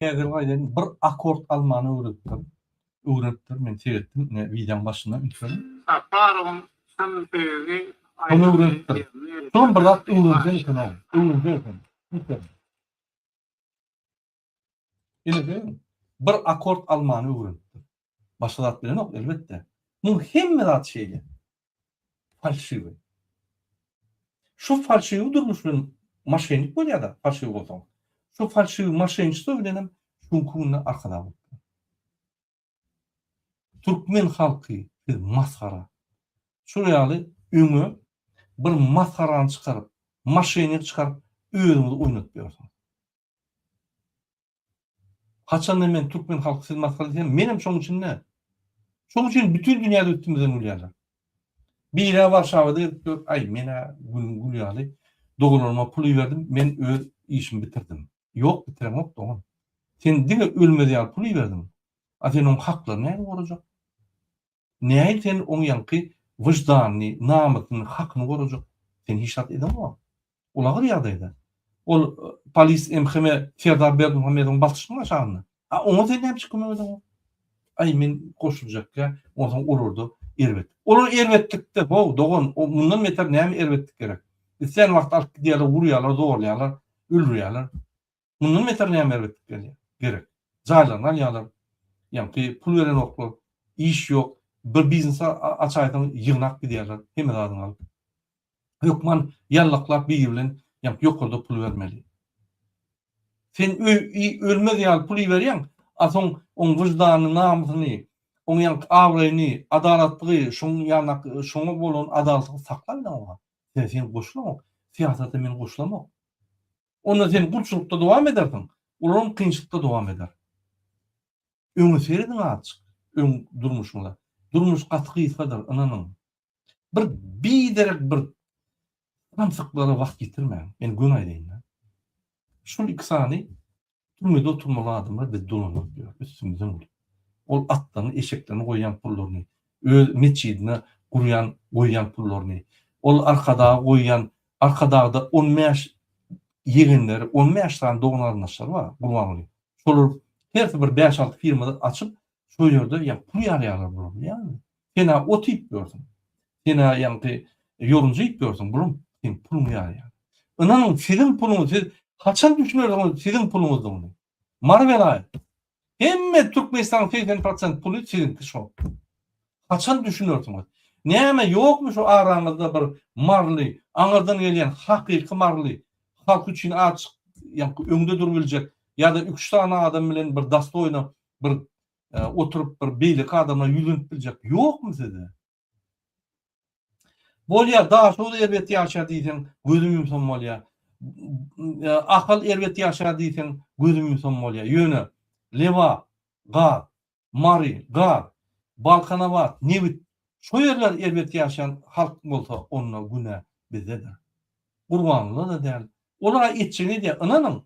Häzir gaýdaýyn bir akord almany öwredipdir. Öwredipdir men seretdim ine wideoň başynda ünsüň. Saparowyň çyn söýgi aýdyň öwredipdir. Şolam bir zat öwrenjek eken ow. Öwrenjek eken. Ünsüň. Ine bir akord almany öwredipdir. Başga zat bilenok, elbetde. Muň hemme zat şeýle. Falşiwi. Şu falşiwi durmuş bilen maşennik bolýar-da, falşiwi bolsaň. Şu falşiwi maşençiso bilenem şuňky günde arkadag bolup dur. Türkmen halky, siz masgara. Şular ýaly öňe bir masgarany çykaryp, maşennik çykaryp, özüňizi oýnatýarsyňyz. Haçanda men türkmen halky siz masgara diýsem, menem şoň üçin däl. Şoň üçin bütin dünýäde üstümizden gülýärler. Biri-ä Warşawada gelip dur, Aý, men-ä günüň güli ýaly, doganlaryma pul iberdim, men öz işimi bitirdim. Ýok, bitireňok, dogan. Sen diňe ölmez ýaly pul iberdiň. A sen oň haklaryny nädip gorajak? Näin sen oň ýaňky wyždanyny, namysyny, hakyny gorajak? Sen hiç zat edeňok. Ulagyr ýagdaýda. Ol polis MHM Serdar Berdimuhamedowyň basyşynyň aşagynda. A oňa sen näme üçin kömek edeňok? Aý men goşuljakka, onsoň olarda erbet. Olar erbetlikde, how, dogan, mundan beter näme erbetlik gerek? Islän wagt alyp gidýärler, urýarlar, zorlaýarlar, öldürýärler. Mundan beter näme erbetlik gelýär? Gerek. Jaýlaryny alýarlar. Ýaňky pul berenoklar. Iş ýok. Bir biznes açaýsaň ýygnap gidýärler. Hemme zadyňy alyp. Hökman ýallaklap biri bilen ýaňky ýokarda pul bermeli. Sen ölmez ýaly pul iberýäň, a soň oň wyždanyny, namysyny, oň ýaňky abraýyny, adalatlygy, şoň ýanak şoňa bolan adalatlygy sakla bilen oňa. Sen sen goşulaňok. Syýasata men goşulamok. Onda sen gulçulykda dowam edersiň, olam kynçylykda dowam eder. Öňe serediň azjyk, öň durmuşyňyza. Durmuş gaty gysgadyr, ynanyň. Bir biderek bir samsyklara wagt ýitirmäň. Men göni aýdaýyn-da. Şul iki sany Türmede oturmaly adamlar biz dolanarys diýýär, üstümizden gülüp. Ol atlaryny, eşeklerini goýýan pullaryny, öz metjidine gurýan, goýýan pullaryny, ol Arkadaga goýýan, Arkadagda on bäş ýegenleri, on bäş sany dogan-garyndaşlary bar Gurbangulyň. Şolar hersi bir bäş-alty firma açyp, Şol ýerde ýa pul ýalýarlar bular bilýäňmi? Sen a ot iýip ýörsüň. Sen a ýaňky ýorunja iýip ýörsüň, bulam seň puluňy ýalýar. Ynanyň, siziň puluňyz, siz haçan düşünersiňiz siziň puluňyzdygyny? Mary welaýat. Hemme Türkmenistanyň segsen prosent puly siziňki şol. Haçan düşünersiňiz? Näme ýokmy şu araňyzda bir maryly, aňyrdan gelýän hakyky maryly, halk üçin a çyk, ýaňky öňde durup biljek ýa-da üç sany adam bilen bir dastoýno bir oturyp bir beýleki adama ýüzlenip biljek ýokmy size? Bolýar, daşoguz erbet ýaşaýar diýseň, gözüm ýumsam bolýar. Ahal erbet ýaşaýar diýseň, gözüm ýumsam bolýar. Ýöne Lebap, gaz, Mary, gaz, Balkanabat, nebit, şo ýerler erbet ýaşaýan halk bolsa, onda günä bizdedir. Gurbangulyda-da däl. Olar-a etjegini edýär, ynanyň.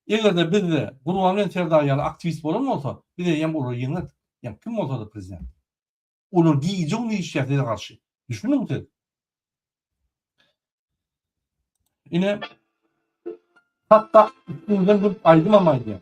Eger-de bizde Gurbangelin Serdar ýaly aktiwist bolan bolsa, biz eýýäm olary ýeňerdik. Ýa kim bolsady prezident. Olar gije-gündiz işleýär size garşy. Düşündiňmi siz? Ine, hatda üstüňizden durup aýdymam aýdýar.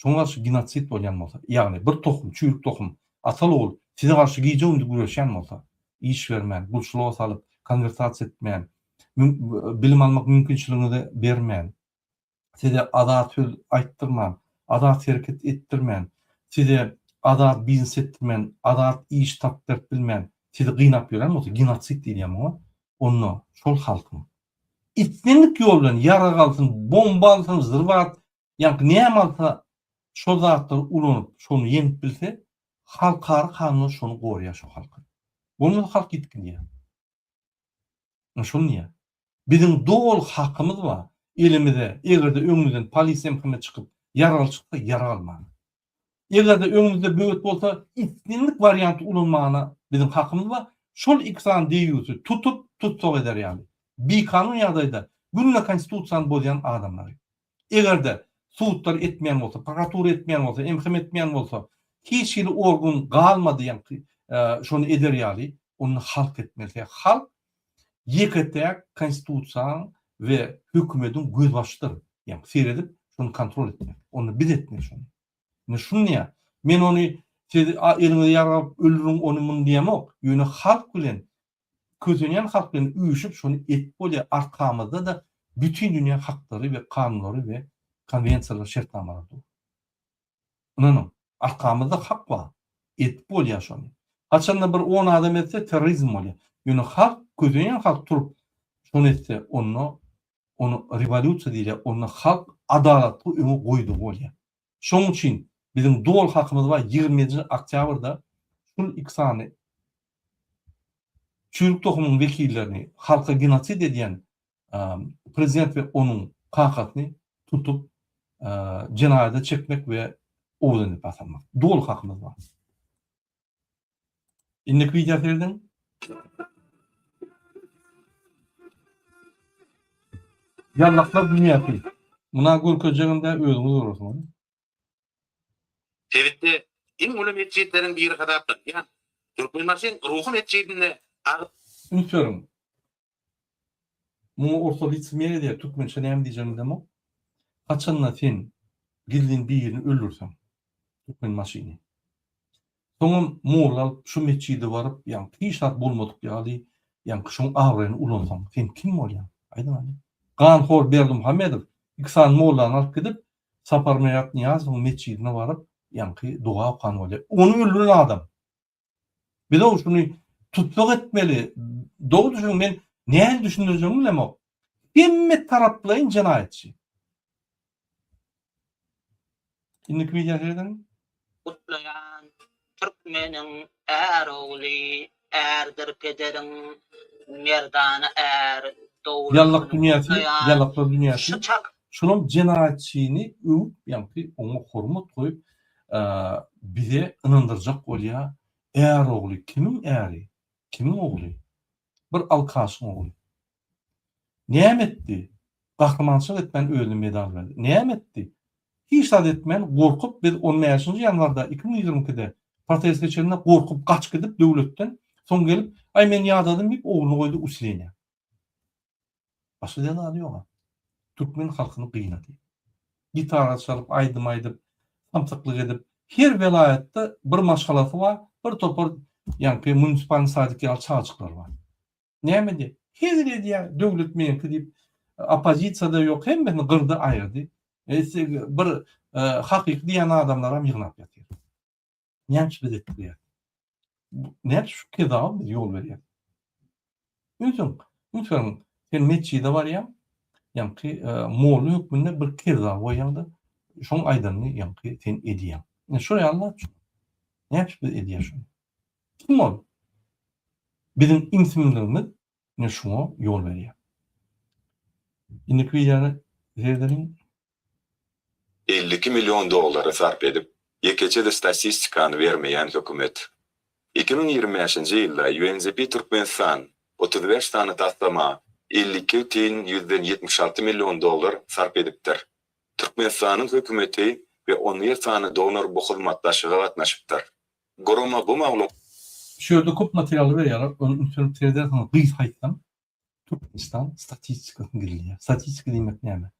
Şoňa garşy genosid bolýan bolsa, ýagny bir tohum, çüýrük tohum, atal-ogul size garşy gije-gündiz güreşýän bolsa, iş bermän, gulçulyga salyp, konwertasiýa etmän, bilim almak mümkinçiligiňizi bermän, size azat söz aýtdyrman, azat hereket etdirmän, size azat biznes etdirmän, azat iş tapyp berip bilmän, sizi gynap ýören bolsa, genosid diýilýär muňa, onda şol halkyň islendik ýol bilen ýarag alsyn, bomba alsyn, zrwat, Ýaňky näme alsa şol zatlary ulanyp şony ýeňip bilse halkara kanunlar şony gorýar şo halky. Bolmasa halk ýitginýär. Men şony diýýän. Biziň doly hakymyz bar elimize egerde öňümizden polis MHM çykyp ýaraly çyksa ýara almaga. Eger-de öňüňizde böwet bolsa, islendik warianty ulanmagyna biziň hakymyz bar. Şol iki sany deýýusy tutup, tussag eder ýaly, bikanun ýagdaýda günde Konstitusiýany bozýan adamlary. Eger-de sudlar etmeýän bolsa, prokuratura etmeýän bolsa, MHM etmeýän bolsa, hiç hili organ galmady ýaňky şony eder ýaly, onda halk etmeli. Sebäbi halk Ýeke-täk Konstitusiýaň we hökümediň gözbaşydyr. Ýa-ni seredip, şony kontrol etmek. Onda biz etmeli şony. Indi şuny diýýän. Men ony siz eliňizi ýargaryp öldüriň ony-muny diýemok. Ýöne halk bilen, kösenýän halk bilen üýşüp şony edip bolýar. Arkamyzda-da bütin dünýä haklary we kanunlary we konwensiýalary, şertnamalary dur. Ynanyň, arkamyzda hak bar. Edip bolýar şony. Haçanda bir on adam etse terrorizm bolýar. Ýöne halk, kösenýän halk turup şony etse, onda ony rewolýusiýa diýilýär, onda halk adalatly öňe goýdugy bolýar. Şonuň üçin biziň doly hakymyz bar ýigrimi ýedinji oktýabrda şul iki sany çüýrük tohumyň wekillerini, halka genosid edýän prezident we onuň kakasyny tutup jenaýada çekmek we owadan edip asalmak. Doly hakymyz bar. Indiki wideo serediň. Ýallaklar dünýäsi. Muna görkezjegimde özüňiz görersiňiz. Sebitde iň uly metjitleriň biri hasaplanýan Türkmenbaşyň Ruhy metjidinde agyz. Üns beriň. Muňa orta licemeriýa diýer, türkmençe näme diýjegini bilemok. Haçanda sen gizlin birini öldürseň, türkmen maşyny. Soňam molla alyp şu metjide baryp, ýagny hiç zat bolmadyk ýaly, ýagny şoň abraýyny ulansaň, sen kim bolýaň? Aýdyň hany. Ganhor Berdimuhamedow iki sany mollany alyp gidip, Saparmyrat Nyýazowyň metjidine baryp, ýagny doga okan bolýar. Ony öldüren adam. Bizow şuny tussag etmeli. Dogry düşüniň, men nähili düşündirjegimi bilemok. Hemme taraplaýyn jenaýatçy. Indiki wideo serederiň. Gutlaýan türkmeniň är ogly ärdir pederiň merdana är dogry ýalak dünýäsi ýalaklar dünýäsi şulam jenaýatçyny öwüp ýaňky oňa hormat goýup bize ynandyrjak bolýa är ogly kimiň äri kimiň ogly bir alkaşyň ogly näme etdi gahrymançylyk etmän özüne medal berdi näme etdi hiç zat etmän gorkup biz on bäşinji ýanwarda iki müň ýigrimi ikide protest geçende gorkup gaç gidip döwletden soň gelip aý men ýadadym diýip ogluny goýdy uslinýa. Başga diýen zady ýoga. Türkmen halkyny gynady. Gitara çalyp, aýdym aýdyp, samsyklyk edip, her welaýatda bir maşgalasy bar, bir topar ýaňky munisipalny sadyk ýaly çagajyklary bar. Näme edýär? Hezil edýär, döwlet meňki diýip, oppozisiýa-da ýok, hemmesini gyrdy, aýyrdy. Bir hakyky diýen adamlaram ýygnap ýatyr. Näçe biz etdirýäs? Näçe şu kezawa biz ýol berýäs? Özüň, ünsüň, sen metjide barýaň, ýaňky molla hökmünde bir kezawa goýýaň-da, şoň aýdanyny ýaňky sen edýäň. Ine şo ýaly-la şu. Näçe biz edýäs şuny? Kim ol? Biziň imsinligimiz ine şuňa ýol berýär. Indiki wideony seredeliň. Elli iki million dollary sarp edip, ýekeje-de statistikany bermeýän hökümet. Iki müň ýigrimi bäşinji ýylda UNDP Türkmenistan otuz bäş sany taslama elli iki tn ýüzden ýetmiş alty million dollar sarp edipdir. Türkmenistanyň hökümeti we on bir sany donor bu hyzmatdaşlyga gatnaşypdyr. Gurama bu maglumaty. Şu ýerde köp materialy berýärler, ony ünslenip seredýärsiňiz, gysgaýtsam. Türkmenistan statistikasyny gizleýär. Statistika diýmek näme?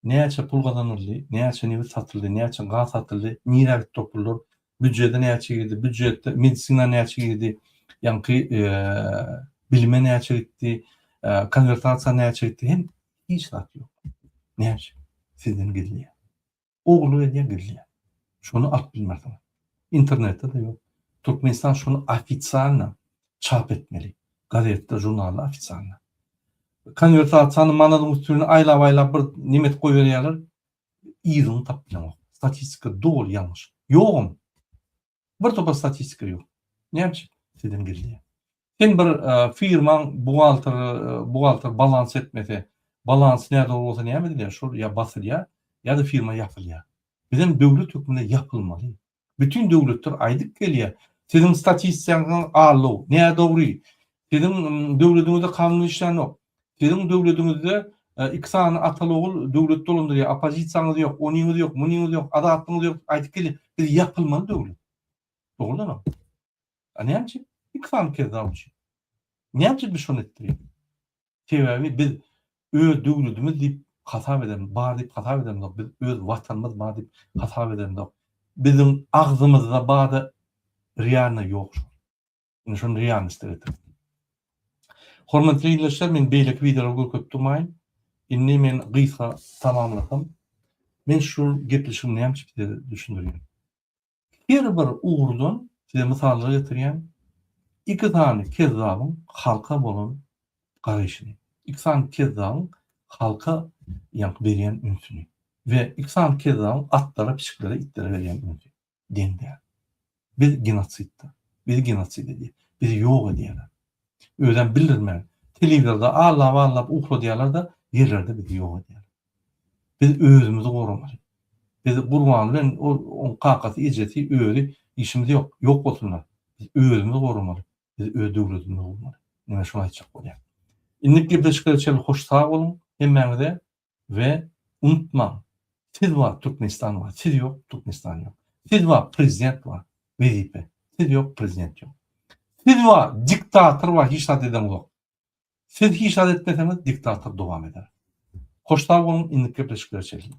Näçe pul gazanyldy, näçe nebit satyldy, näçe gaz satyldy, nirä gitdi o pullar, býujede näçe girdi, býujetde medisina näçe girdi, ýaňky bilime näçe gitdi, konwertasiýa näçe gitdi, hiç zat ýok. Näçe? Sizden gizleýär. ogly welin bilýär. Şony alyp bilmersiňiz. Internetde-de ýok. Türkmenistan şony ofisialna çap etmeli. Gazetde, žurnalda ofisialna. Konwersasiýany manadyň üstüne aýlap-aýlap bir nemes goýberýärler. Yzyny tapyp bileňok. Statistika doly ýalňyş. Ýogam. Bir topar statistika ýok. Näme üçin? Sizden gizli. Sen bir firmaň buhgalter, buhgalter balans etmese, balans nädogry bolsa näme edilýär? Şol ýa basylýar, ýa-da firma ýapylýar. Biz hem döwlet hökmünde ýapylmaly. Bütin döwletler aýdyp gelýär, siziň statistikaňyz alo, nädogry. Siziň döwletiňizde kanun işlänok. Siziň döwlediňizde iki sany ataly-ogul döwleti dolandyrýar, oppozisiýaňyz ýok, onyňyz ýok, munyňyz ýok, azatlygyňyz ýok diýip aýdyp gelýär. Biz ýapylmaly döwlet. Dogrudanam. A näme üçin? Iki sany kezzap üçin. Näme üçin biz şony etdirýäs? Sebäbi biz öz döwledimiz diýip hasap eden, bar diýip hasap edenok, biz öz watanymyz bar diýip hasap edenok. Biziň agzymyzda bada realno ýok şol. Indi şony realnostda getirip. Hormatly ildeşler, men beýleki wideolary görkezip durmaýyn. Indi men gysga tamamlasam, men şu gepleşigi nämçe size düşündirýän. Her bir ugurdan size mysallar getirýän, iki sany kezzabyň halka bolan garaýşyny, iki sany kezzabyň halka ýaňky berýän ünsüni we iki sany kezzabyň atlara, pişiklere, itlere berýän ünsüni. deň däl. Biz genosidda. Bizi genosid edýär. Bizi ýok edýärler. Özem bildirmän, telewizorda allap-allap ukladýarlar-da, ýerlerde bizi ýok edýärler. Biz özümizi goramaly. Biz Gurban bilen ol oň kakasy, ejesi, özi işimiz ýok. Ýok bolsunlar. Biz özümizi goramaly. Biz öz döwletimizi gurmaly. Menä şuny aýtjak bolýan. Indik gepleşikler üçin hoş sag boluň hemmäňize. we unutmaň siz bar Türkmenistan bar siz ýok Türkmenistan ýok siz bar prezident bar wezipe siz ýok prezident ýok siz bar diktator bar hiç zat eden ýok siz hiç zat etmeseňiz diktator dowam eder hoş sag boluň indiki gepleşiklere çekiliň.